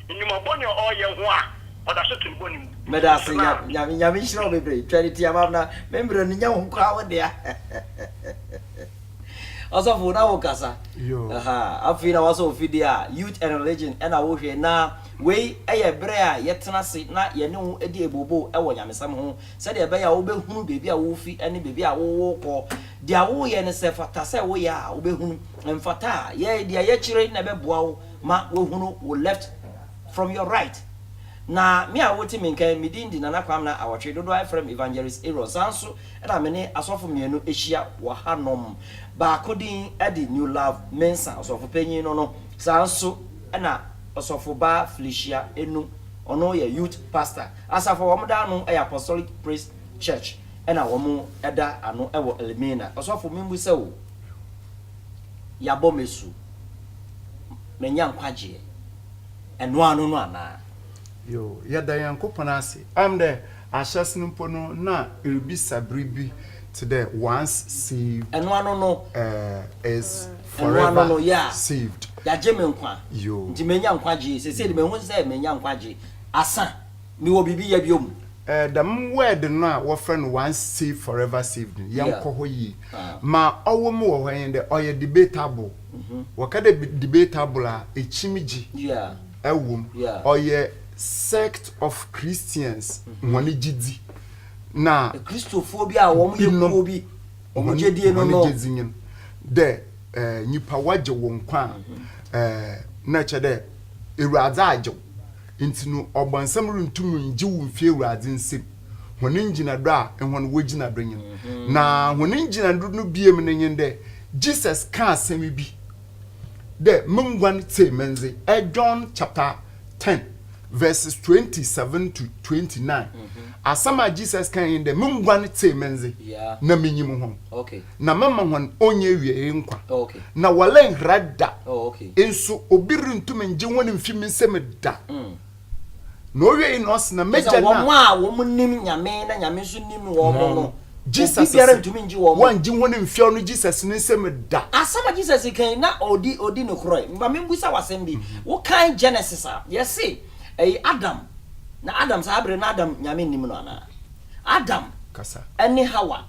Nnwuma bɔne a ɔreyɛ ho a ɔda so te ne bɔne mu. Meda ase nya Nyame Nyame nhyira wo bebree Twɛne tia ma na me mbrɛ no nya wo koraa wo dea Ɔsɔfo na wo kasa ahaa afei na wasɔ ofidie a youth and religion na wo hwɛ na wei yɛ berɛ a yɛ tena ase na yɛ ne wo di ebobo wɔ nyamesɛm ho sɛdeɛ ɛbɛyɛ a wo bɛ hunu baabi a wo fi ne baabi a wo wo kɔ deɛ wo yɛ no sɛ fata sɛ wo yɛ a wo bɛ hunu mfata a yɛ deɛ yɛ kyerɛ na ɛbɛ boa wo Ma wɔhunu wo left from your right Na me a wote me nka yi, me din de Nana Kwamina Awɔtwe, dodoɔ ara frɛ me Evangelist Aaron. Saa nso na me ne asɔfo mmienu ahyia wɔ hanom. Baako din de New Love Mensah, ɔsɔfo panyin no no. Saa nso na Ɔsɔfobaa Felicia Enu, ɔno yɛ youth pastor. Asafo a wɔda ano yɛ Apostolic Praise Church na wɔda ano wɔ Elmina. Ɔsɔfo, memmu sɛ o. yɛabɔ me asu, manya nkwagyeɛ, ɛno ara no no anaa? Yo, yɛda Nyankopɔn ase. Ɛm dɛ ahyɛse no mpo no na eribisa biribi tse dɛ once saved, Ɛno ano no, eh, is ɛno ano forever no, yeah, saved. yɛagye me nkwa, Yo. nti manya nkwagyeɛ, seesei de mahu sɛ manya nkwagyeɛ, asa. Mewɔ biribi yɛ bio mu. Eh, dɛm word no a wɔfrɛ no once saved forever saved no, yɛnkɔ hɔ yie. Ma ɔwɔ mu wɔ hɔ nye dɛ ɔyɛ debatable. Mhm. Wɔka dɛ debatable a, ekyimgye Yeah. wɔ mu. Yeah. Ɔyɛ sect of Christians Mhm. hɔn gyedzi na Akristofoɔ bi a wɔn yɛ binom kuo bi, wɔn hɔn gyedie no hɔn no. gyedzi nye no dɛ eh, nyimpa wɔgye wo nkwa a, Mhm. eh, nna kyerɛ dɛ Ewuradze agye wo. Ntsi no ɔbɔnsam runntum nngye wo mmfi Ewuradze nsamu, hɔn ngyinado a hɔn wɔ gyina do nye no. Na hɔn ngyinado no biem no nye dɛ Jesus kã asɛm bi dɛ, Mo nguan tsie me ndze, John chapter ten verses twenty seven to twenty nine, asɛm a Jesus kãe nye dɛ, Mo nguan tsie me ndze na minyim hɔn. na mɛma hɔn onnyiewiei nkwa, na wɔrennhera da, nso obi runntum nngye hɔn mmfi me nsamu da. Na owiei no ɔse, Na m'Egya no a. Kyerɛ sɛ, wɔn a wɔnnim Nyame na Nyame nso nnim wɔn no, obi biara nntumi nngye wɔn. Wɔanngye hɔn mmfi ɔno Jesus no nsamu da. Asɛm a Jesus kae na odi no korɔe. Ma mimbisa wo asɛm bi. Wokan Genesis a, yɛse ɛy Adam, na Adam, saa bere no Adam Nyame nnim no anaa? Adam ne Hawa.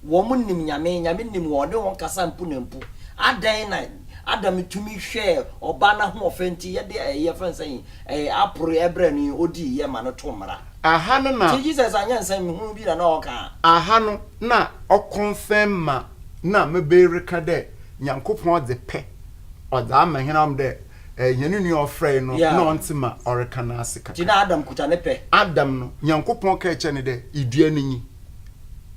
Wɔn nnim Nyame, Nyame nnim wɔn, ɔne wɔn kasa mpo na mpo. Adɛn na Adam tumi hwɛɛ ɔbaa no ahoɔfɛ nti yɛde ɛyi yɛfrɛ no sɛn yi, ɛɛ aporo ɛbrɛ no yi, ɔdii yɛ ma no to mmara. Aha no na. Nti Jesus anyɛ nsɛm hunu bi na na ɔɔka a. Aha no na ɔkɔnfɛm ma na mebee reka dɛ Nyankopɔn ɔdze pɛ ɔdze ama hɛn anom dɛ ɛɛ hɛn nua a ɔfrɛe no na Yeah. ɔnntse ma ɔreka n'ase Nti kakra. na Adam kuta ne pɛ. Adam no, Nyankopɔn kaa kyerɛɛ no dɛ, Idua no nyi.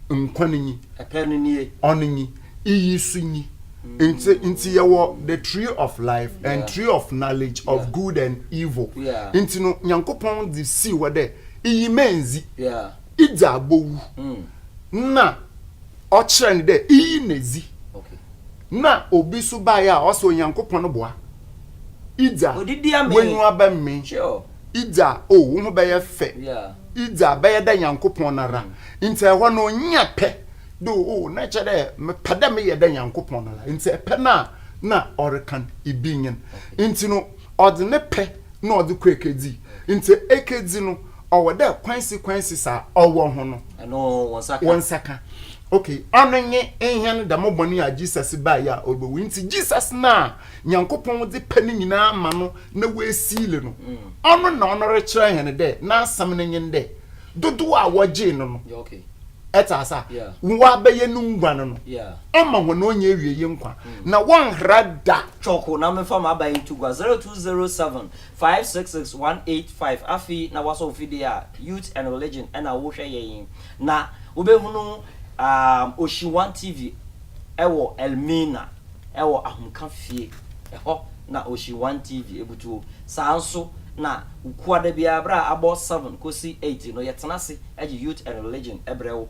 nkwa no nyi. Ɛpɛ no nie. Ɔno nyi. Iyi so nyi. Nti nti yɛwɔ the tree of life and tree of knowledge of good and evil. Nti no Nyankopɔn dze sii hɔ dɛ iyi ma ndzi, idzi a bowu. Nna ɔkyerɛ no dɛ iyi na dzi. Na obi so baeɛ a ɔse Onyankopɔn boa Idza wenyi aba mme Idza oh wo ho bɛyɛ fɛ Idza bɛyɛ dɛ Nyankopɔn no ara Nti ɛhɔ no ɔnya pɛ dɛ oh na ɛkyɛ dɛ mepɛ dɛ meyɛ dɛ Nyankopɔn no ara Nti ɛpɛ no a na ɔrekan ibi nyen Nti no ɔdze ne pɛ na ɔdze kɔ ekedzi Nti ekedzi no Ɔwɔ dɛ consequences a ɔwɔ ho no, wo nsa ka. Okay, ɔno nye hɛn dɛm bɔn yi a Jesus bae a orubowu. Ntsi Jesus no a Nyankopɔn dze pɛ no nyina ama no na woeseal no, ɔno na ɔno rekyerɛ hɛn dɛ n'asɛm no nye no dɛ, dodow a wɔgyee no no, etse ase a, wɔabɛyɛ no nguan no, ɔma hɔn onnyiewiei nkwa, na wɔnnhera da. Cwɔko na memfa m'abae nto gua zero two zero seven 566185 Afei na wasɔ wo fidie a, Youth and Religion ɛna wo hwɛ yɛ yi. Na wo bɛ hunu um Oshiwan TV ɛwɔ Elmina ɛwɔ Ahomka fie. Ɛhɔ na Oshiwan TV ɛbutuo. Saa nso na kuada biara berɛ a abɔ seven kɔsi eight no yɛ tena ase ɛgye Youth and Religion ɛbrɛ wo.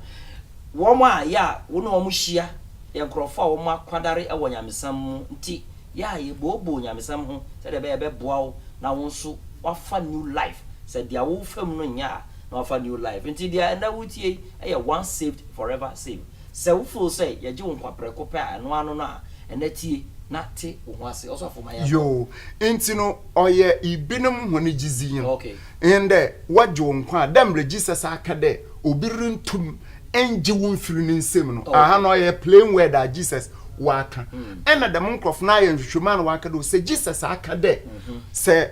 Wɔn a yɛ a wo ne wɔn hyia yɛ nkorɔfoɔ a wɔn akwadare ɛwɔ nyamesɛm mu nti yɛ a yɛbooboo nyamesɛm ho sɛdeɛ ɛbɛyɛ ɛbɛboa wo na wo nso woafa new life, sɛ deɛ wofa mu no nyɛ a na woafa new life. Nti deɛ ɛnnɛ woretie yi yɛ once saved forever saved. Sɛ wo feel sɛ yɛgye wo nkwa prɛko pɛ a ɛno ara no no a, ɛnnɛ tie na te wo ho ase. Ɔsɔfo ma yɛnkɔ. Yoo, nti no ɔyɛ ibinom hɔn gyedzi nyi no. Okay. Ndɛ wɔgye wo nkwa a, dɛ mbrɛ Jesus aka dɛ obi runntum ngye wo mfir ne nsamu no, aha no ɔyɛ plain word a Jesus ɔaka. Nna dɛm nkorɔfo no ayɛ nhwehwɛmu a na wɔaka dɛ sɛ Jesus aka dɛ sɛ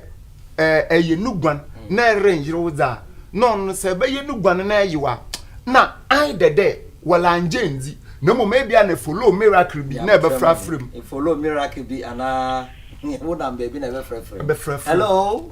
ɛyɛ no guan na erennyerew dze a, na ɔno no sɛ ebɛyɛ no guan na eyew a, nna either dɛ wɔanngye enndzi na mbom ebi a na follow miracle bi na ebɛfrafra mu. Follow miracle bi anaa wonam beebi na ebɛfrɛfrɛ mu. Hello.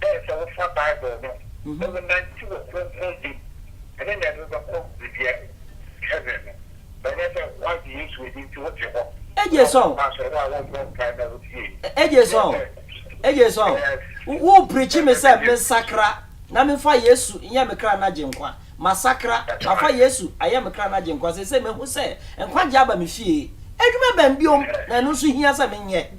dɛ sɛ wofa Bible no na wonantsew wɔ krɔnkrɔn gye mu ne dɛ ebɛkɔ beebi a heaven no. Ɔnnyɛ dɛ wɔagye Yesu edzi ntsi wotse hɔ na wɔkɔ asɔr, wo a wɔmmbɔ mpaa na wotsie yi. Nnyɛ dɛ ɛyɛ Wo preachi me sɛ mensakra na memfa Yesu nyɛ me kra n'Agyenkwa. Masakra, mafa Yesu ayɛ me kra n'Agyenkwa. Seisei mehu sɛ nkwagye aba me fie. Edwuma bɛn bio na ɛno nso hia sɛ menyɛ?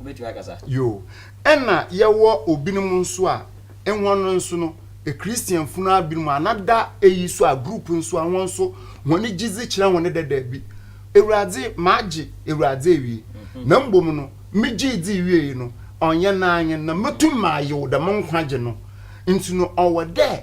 wobɛtumi akasa. Yoo. Ɛna yɛwɔ obinom nso a, hɔn no nso no, Christian funu a binom anada eyi so a, group nso a, hɔn nso hɔn gyedzi kyerɛ hɔn dɛ dabi, Ewuradze, magye Ewuradze ewie, na mbom no, megyee dzii wiei no, ɔnnyɛ n'anyen na metum mayew dɛm nkwagye no. Ntsi no, ɔwɔ dɛ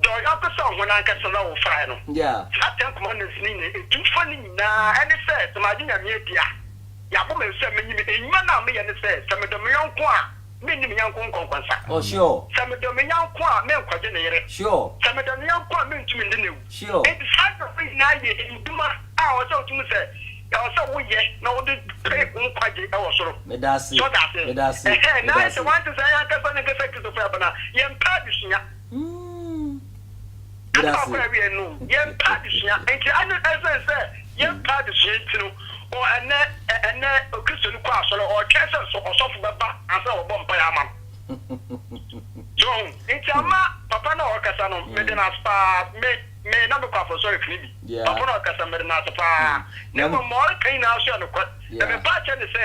Dɔ wo yɔnko sɛ wo ho no ankasa na wofae no. Saa Ten Commandments no nyinaa edu fa no nyinaa ne sɛ, sɛ magye Nyame adi a, yɛabɔ me nsam, menye me. Nnwuma no a meyɛ ne sɛ, sɛ medɔ me yɔnko a, menni me yɔnko nkɔnkɔnsa. Sɛ medɔ me yɔnko a, menkɔgye ne yere. Sɛ medɔ ne yɔnko a, merentumi ndi no awu. Enti saa nneɛma yi nyinaa yɛ nnwuma a ɛwɔ sɛ wotu mu sɛ ɛwɔ sɛ woyɛ na wode pere wo nkwagye wɔ soro. So ɔda aseɛ? Ɛhɛɛ, na ayɛ sɛ wante saa yi ankasa ne nkasa Kristofo a yɛabena. Yɛmpɛ adesua. Meda ase. Ɛna awiɛ no yɛn pɛ adesua nti ɛne ɛsɛn sɛ yɛn pɛ adesua nti no o ɛnɛ ɛnɛ okristo no kɔ asɔre ɔtwɛn sɛ so ɔsɔfo bɛba ansa wɔbɔ mpaeɛ ama no so wahu nti ama papa na ɔkasa no mede no ase paa me me na mekɔ afɔsɔre fini bi papa na ɔkasa mede no ase paa na mmom ma ɔreka nyinaa so yɛ nokware na me paakyɛ ne sɛ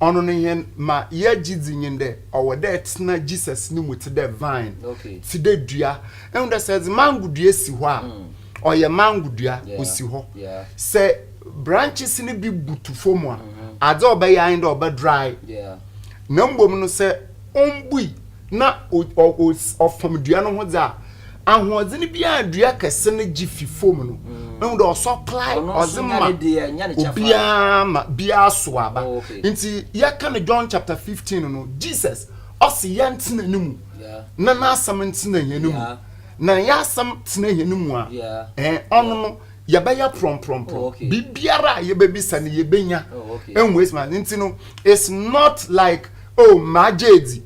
Ɔno no hɛn ma yɛgye dzi nye dɛ ɔwɔ dɛ etsena Jesus no mu tse dɛ vine, tse dɛ dua. Ehu dɛ sɛ edze mango dua si hɔ a, ɔyɛ mango dua, osi hɔ. Sɛ branches no bi butu famu a, adze a ɔbɛyɛ ara nye dɛ ɔbɛ dry. Na mbom no sɛ ommbui na ɔfam dua no ho dze a ahoɔdzen bi a dua kɛse no gye fi famu no mm. ehu dɛ ɔsɔ klae ɔdze ma obiara ma biara so aba oh, nti yɛka no john chapter 15 no jesus ɔse yɛntsena ne mu na n'asɛm ntsena hɛn mu na yɛasɛm tsena hɛn mu a ɔno no yɛbɛyɛ prɔmprɔmprɔm oh, biribiara a yɛbɛbisa no yɛbɛnya ɛnwɔ oh, ɛsima nti no it's not like o oh, magye adi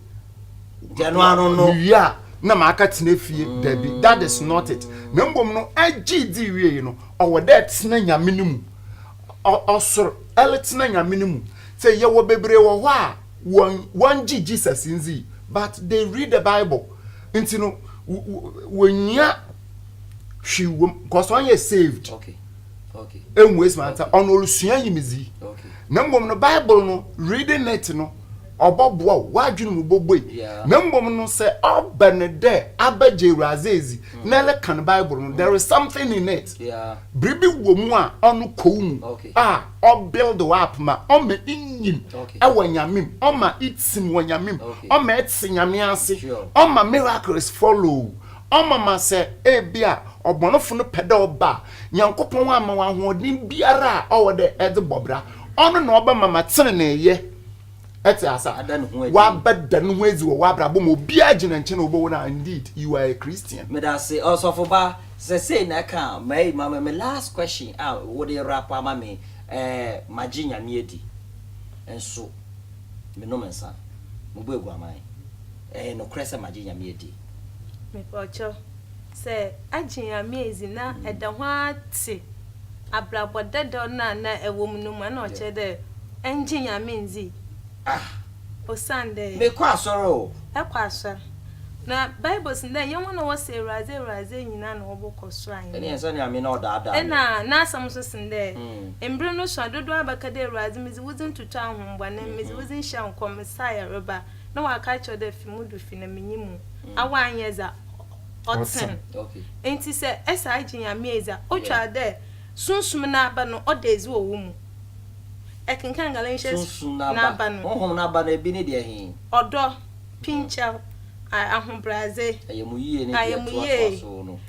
gyano ano no mewie a na maka tena fie mm. dabi that is not it na mbom no agye di wie yi no ɔwɔ dɛ tena nyame no mu ɔsoro ɛle tena nyame no mu sɛ yɛwɔ bebree wɔ hɔ a wɔn wɔn gye jesus ndzi but they read the bible nti no wɔnyia hwee wɔm kɔsɔn yɛ saved. Okay. ɛnwes ma nsa ɔno ɔresua nyimedzi na mmom no bible no reading it no ɔbɔboa wo w'adwene mu bɔbɔi na mmom no sɛ ɔbɛ ne dɛ abɛgye awuradze edzi hmm. na ɛlɛka no bible no there is something in it biribi wɔ mu a ɔno kɔw mu a ɔbuild wo up ma ɔma inyim ɛwɔ nyamem ɔma itsim wɔ nyamem ɔma ɛtse nyame ase ɔma miracles follow ɔma ma sɛ ebi a ɔbɔnofo no pɛ dɛ ɔba Nyankopɔn ama wo ahoɔden biara a ɔwɔ dɛ ɛdze bɔ bra. Ɔno na ɔbɛma ma tseneneeyɛ tse ase a ɔabɛda no ho edzi wɔ w'abrabɔ mu. Obiara gyina nkyɛn a obohu no a, indeed you are a Christian. Meda ase ɔsɔfo ba sɛ sei na ɛka mayi ma me last question a wode wrap ama me ɛɛ magye nyame adi nso menom nsa mebɔ aguaman ɛyɛ nokorɛ sɛ magye nyame adi. Mepawkyɛw, sɛ agyen a me edzi na eda ho ara tse abrabɔ dadaw no a nna ewɔ mu no mu a, nna ɔkyerɛ dɛ enngye Nyame nndzi. Ah! Osiandɛ. Mekɔ asɔr o. Ekɔ asɔr. Na Bible se dɛ nnyɛ hɔn a wɔse Ewuradze, Ewuradze nyina na wɔbɔkɔ sor ahenyi mu. Nnsɛ Nyame na ɔdaadaa me. Nna n'asɛm so se dɛ, Mber no sua dodow abɛka dɛ Ewuradze, medze wo dzin toto ahom bɔn, medze wo dzin hyɛ nkɔm, Messiah reba. na ɔaka akyerɛ wo dɛ fi mu do fi na menye mu a ɔannyɛ dza ɔtsen. Ntsi sɛ ese agye Nyame edzi a, otwar dɛ Sunsum n'aba no ɔda edzi wɔ wo mu. Ekenkan Galatians Sunsum n'aba, n'aba no. honhom n'aba no, bi ne deɛ he? Ɔdɔ, pinkyɛw, a ahobrɛadze, Ayamuyie ne deɛ ɛtoatoa so no.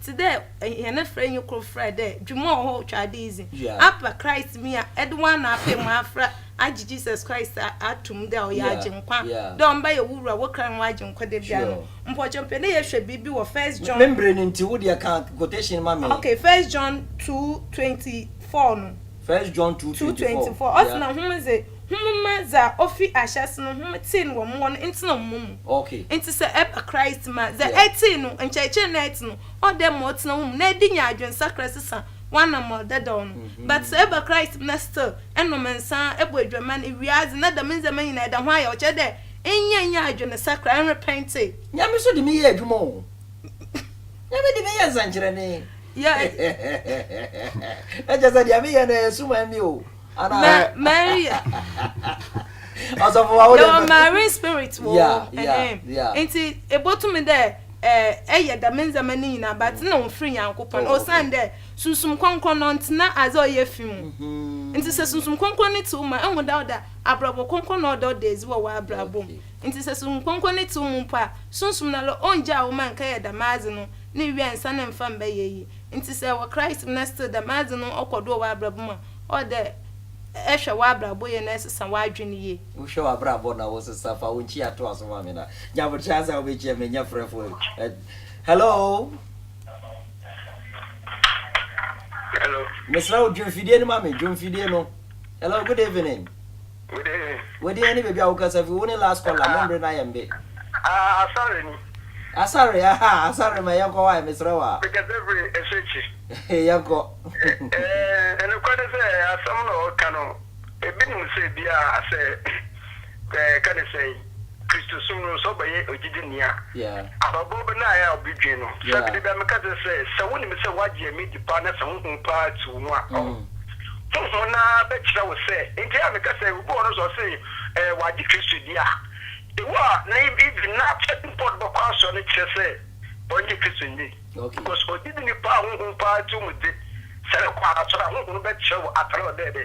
Tse dɛ hɛn frɛ nye kor frɛ dɛ dwuma wɔ hɔ otwa adze yi dze, apa Christ me a edze w'ana apae mu afora agye Jesus Christ ato mu dɛ ɔyɛ Agyenkwa, dɛ Ɔmbɛyɛ wo Wura, wo Kra, nye w'Agyenkwa dabia no. Mpɔkyɛ mepɛ dɛ yɛhwɛ biribi wɔ First John. Me mber no ntsi, wo deɛ ka quotation ma me. Okay, First John two twenty four no. First John two twenty four, yeah. Two twenty four, ɔse na hom dze. Hom mma dza ofi ahyɛse no hom tsee no wɔ mo hɔ no ntsena mo mu. Ntsi sɛ eba Christ mu a, dza etsee no, nkyerɛkyerɛ na etse no, ɔwɔ dɛ ema ɔtsena wo mu na ede nya adwensakra sesa w'anamɔn dadaw no. But sɛ eba Christ mu na still enom nsa, ebɔ edwaman, iwia adze, na dɛm ndzɛmba nyina eda ho ayaw, ɔkyerɛ dɛ nnyɛ nnyɛ adwenesakra, nnrepɛntse. Nyame so de me yɛ adwuma o. Nyame de me yɛ nsɛnkyerɛnee. Na kyerɛ sɛ deɛ meyɛ no ɛyɛ suman me o. Ana Mary. Ọsọfọ wa wo de. Yɛwɔ Mary spirit wɔ. Yeah, yeah, yeah. Nti ebotumi dɛ ɛyɛ dɛm ndzɛmba ne nyina but mm. na ɔmfiri Nyankopɔn. Oh, Osian dɛ Sunsum Krɔnkrɔn no ɔntsena adze a ɔyɛ fi mu. Mm-hmm. Nti sɛ Sunsum Krɔnkrɔn no tse wo mu a, ehu dɛ ɔda abrabɔ krɔnkrɔn na ɔda ɔda edzi wɔ w'abrabɔ mu. Nti sɛ Sunsum Krɔnkrɔn no tse wo mu mpo a, Sunsum no ara ɔngyaa wo ma nkɛyɛ dɛm adze no ne wiansa no mmfa mmbɛyɛ yie. Nti sɛ wɔ Christ mu na still dɛm adze no ɔkɔ do wɔ w'abrabɔ mu a, Ɔwɔ dɛ ehwɛ w'abrabɔ yie na esesa w'adwen yie. Wohwɛ w'abrabɔ na wosesa, fa wo nkyia to aso ma me na gye aboterɛ ansa a wobɛkyia me, nyɛ frɛfoɔ yi. Ɛ- Hello? Hello. Mesrɛ wo, dwe mfidie no ma me, dwe mfidie no. Hello, good evening. Wode. Wode ɛne baabi a wokasa fi. Wo ne last caller, mo mbre no ayɛ mbe. Ah, Asare ni. Asare, aha, Asare ma yɛnkɔ hɔ ae, mesrɛ wo a. Mekasa firi Esuekyi. Yɛnkɔ. Eh, nokorɛ ne sɛ, asɛm na ɔreka no, ebi nim sɛ biara sɛ, eh, ka ne sɛn. Kristosom no, sɛ ɔbɛyɛ ogyidini a, abrabɔ bɛn na ɛyɛ a obi dwen no? Sɛ biribi bɛn, meka kyerɛ sɛ, sɛ wonim sɛ woagye Nyame adi paa na sɛ honhom paa te wo mu a, ɔh, honhom no ara bɛkyerɛ wo sɛ, enti a meka sɛ, obi wɔ hɔ no sɛ ɔse ɛɛ wagye Kristo adi a, ewu a na even na Frederick Ford bɛkɔ asɔre no kyerɛ sɛ ɔnnyee Kristo nni, because ogyidini paa a honhom paa te wo mu de, sɛ ɛkɔ asɔre a, honhom no bɛkyerɛ wo atare a ɔdɛɛdɛ.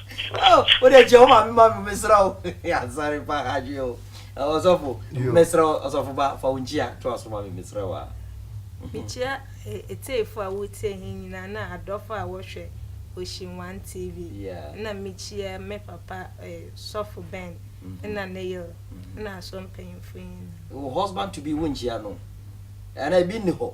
Oh, wo de kyɛ wo maame ma me mesra wo. Asare pa adwe o. Ɔsɔfo, mesra wo ɔsɔfo ba fa wo nkyia to aso ma me mesra wo a. Mekyia etiefo a wotie he nyinaa na adɔfo a wɔhwɛ Ocean One TV. Nna mekyia me papa Sɔfo Ben nna ne yer nna asɔr mpanyimfo nyinaa. Wo husband to be wonnkyia no? Anaa bi nnihɔ?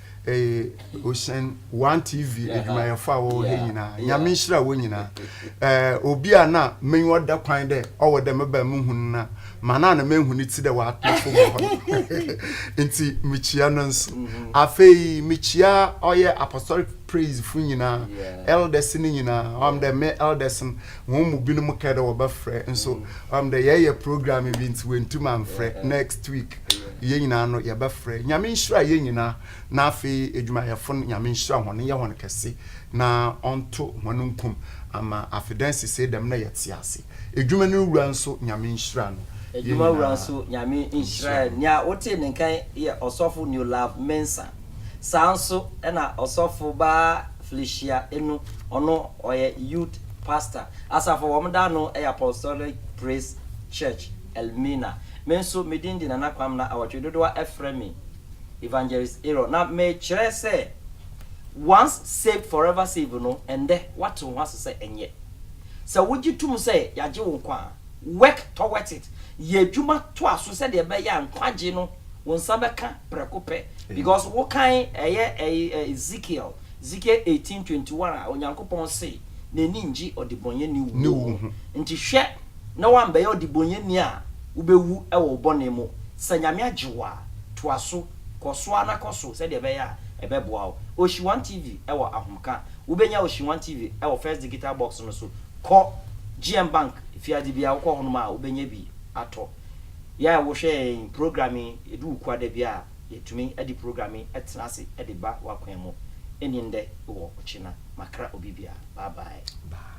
eh, ocean one tv adwumayɛfo a wɔwɔ ha nyinaa nyame nhyira wɔ nyinaa eh, obi a na menyɛ ɔda kwan dɛ ɔwɔ dɛ meba mu hu no na ma na na mehu no ti dɛ wɔatɔfo mu hɔ nti mekyia no nso mm-hmm. afei mekyia ɔyɛ apostolic praise fo nyinaa elders no nyinaa ɔm dɛ me elders no wɔn mu binom kɛ dɛ wɔbɛfrɛ nso mm-hmm. ɔm dɛ yɛyɛ program bi nti wɔntum amfrɛ next week yɛn nyinaa no yɛbɛfrɛ Nyame nhyira yɛn nyinaa na afei edwumayɛfo no Nyame nhyira hɔn nyɛ hɔn kɛse na ɔnto hɔn nkum ama afedansi sei dɛm na yɛtse ase edwuma no wura nso Nyame nhyira no Edwuma wura nso Nyame nhyira no nea wotee ne nka yi yɛ Ɔsɔfo Newlove Mensah saa nso na Ɔsɔfo baa Felicia Enu ɔno ɔyɛ Youth Pastor asafo a wɔn da ano yɛ Apostolic Praise Church Elmina. Me nso, me din de Nana Kwam na awɔtwe dodow a ɛfrɛ me Evangelist Aaron. Na mekyerɛ sɛ Once Saved Forever Saved no, ɛnnɛ woate wo ho ase sɛ ɛnyɛ. Sɛ wogye tom sɛ yɛagye wo nkwa a, work towards it. Yɛ adwuma toa so sɛdeɛ ɛbɛyɛ a nkwagye no wo nsa bɛka prɛko pɛ. Because wokan ɛyɛ Ezekiel, Ezekiel eighteen twenty one a Onyankopɔn se n'ani nnye ɔdebɔnyɛni wuo ho. Nti hwɛ na woambɛyɛ ɔdebɔnyɛni a wobɛwu wɔ wo bɔne mu. Sɛ Nyame agye wo a, toaso, kɔso ara na kɔso sɛdeɛ ɛbɛyɛ a ɛbɛboa wo. Ocean One TV wɔ Ahomka. Wobɛnya Ocean One TV wɔ First Digital Box no so. Kɔ GM Bank fiadze biara wokɔ hɔnom a wobɛnya bi atɔ. Yɛ a wohwɛ yɛn program yi, ɛdu wo kua da bi a yɛtumi de program yi tena ase de ba w'akwan mu. Ɛnni ndɛ wɔ ɔkyena. Makra obi biara. Bye bye.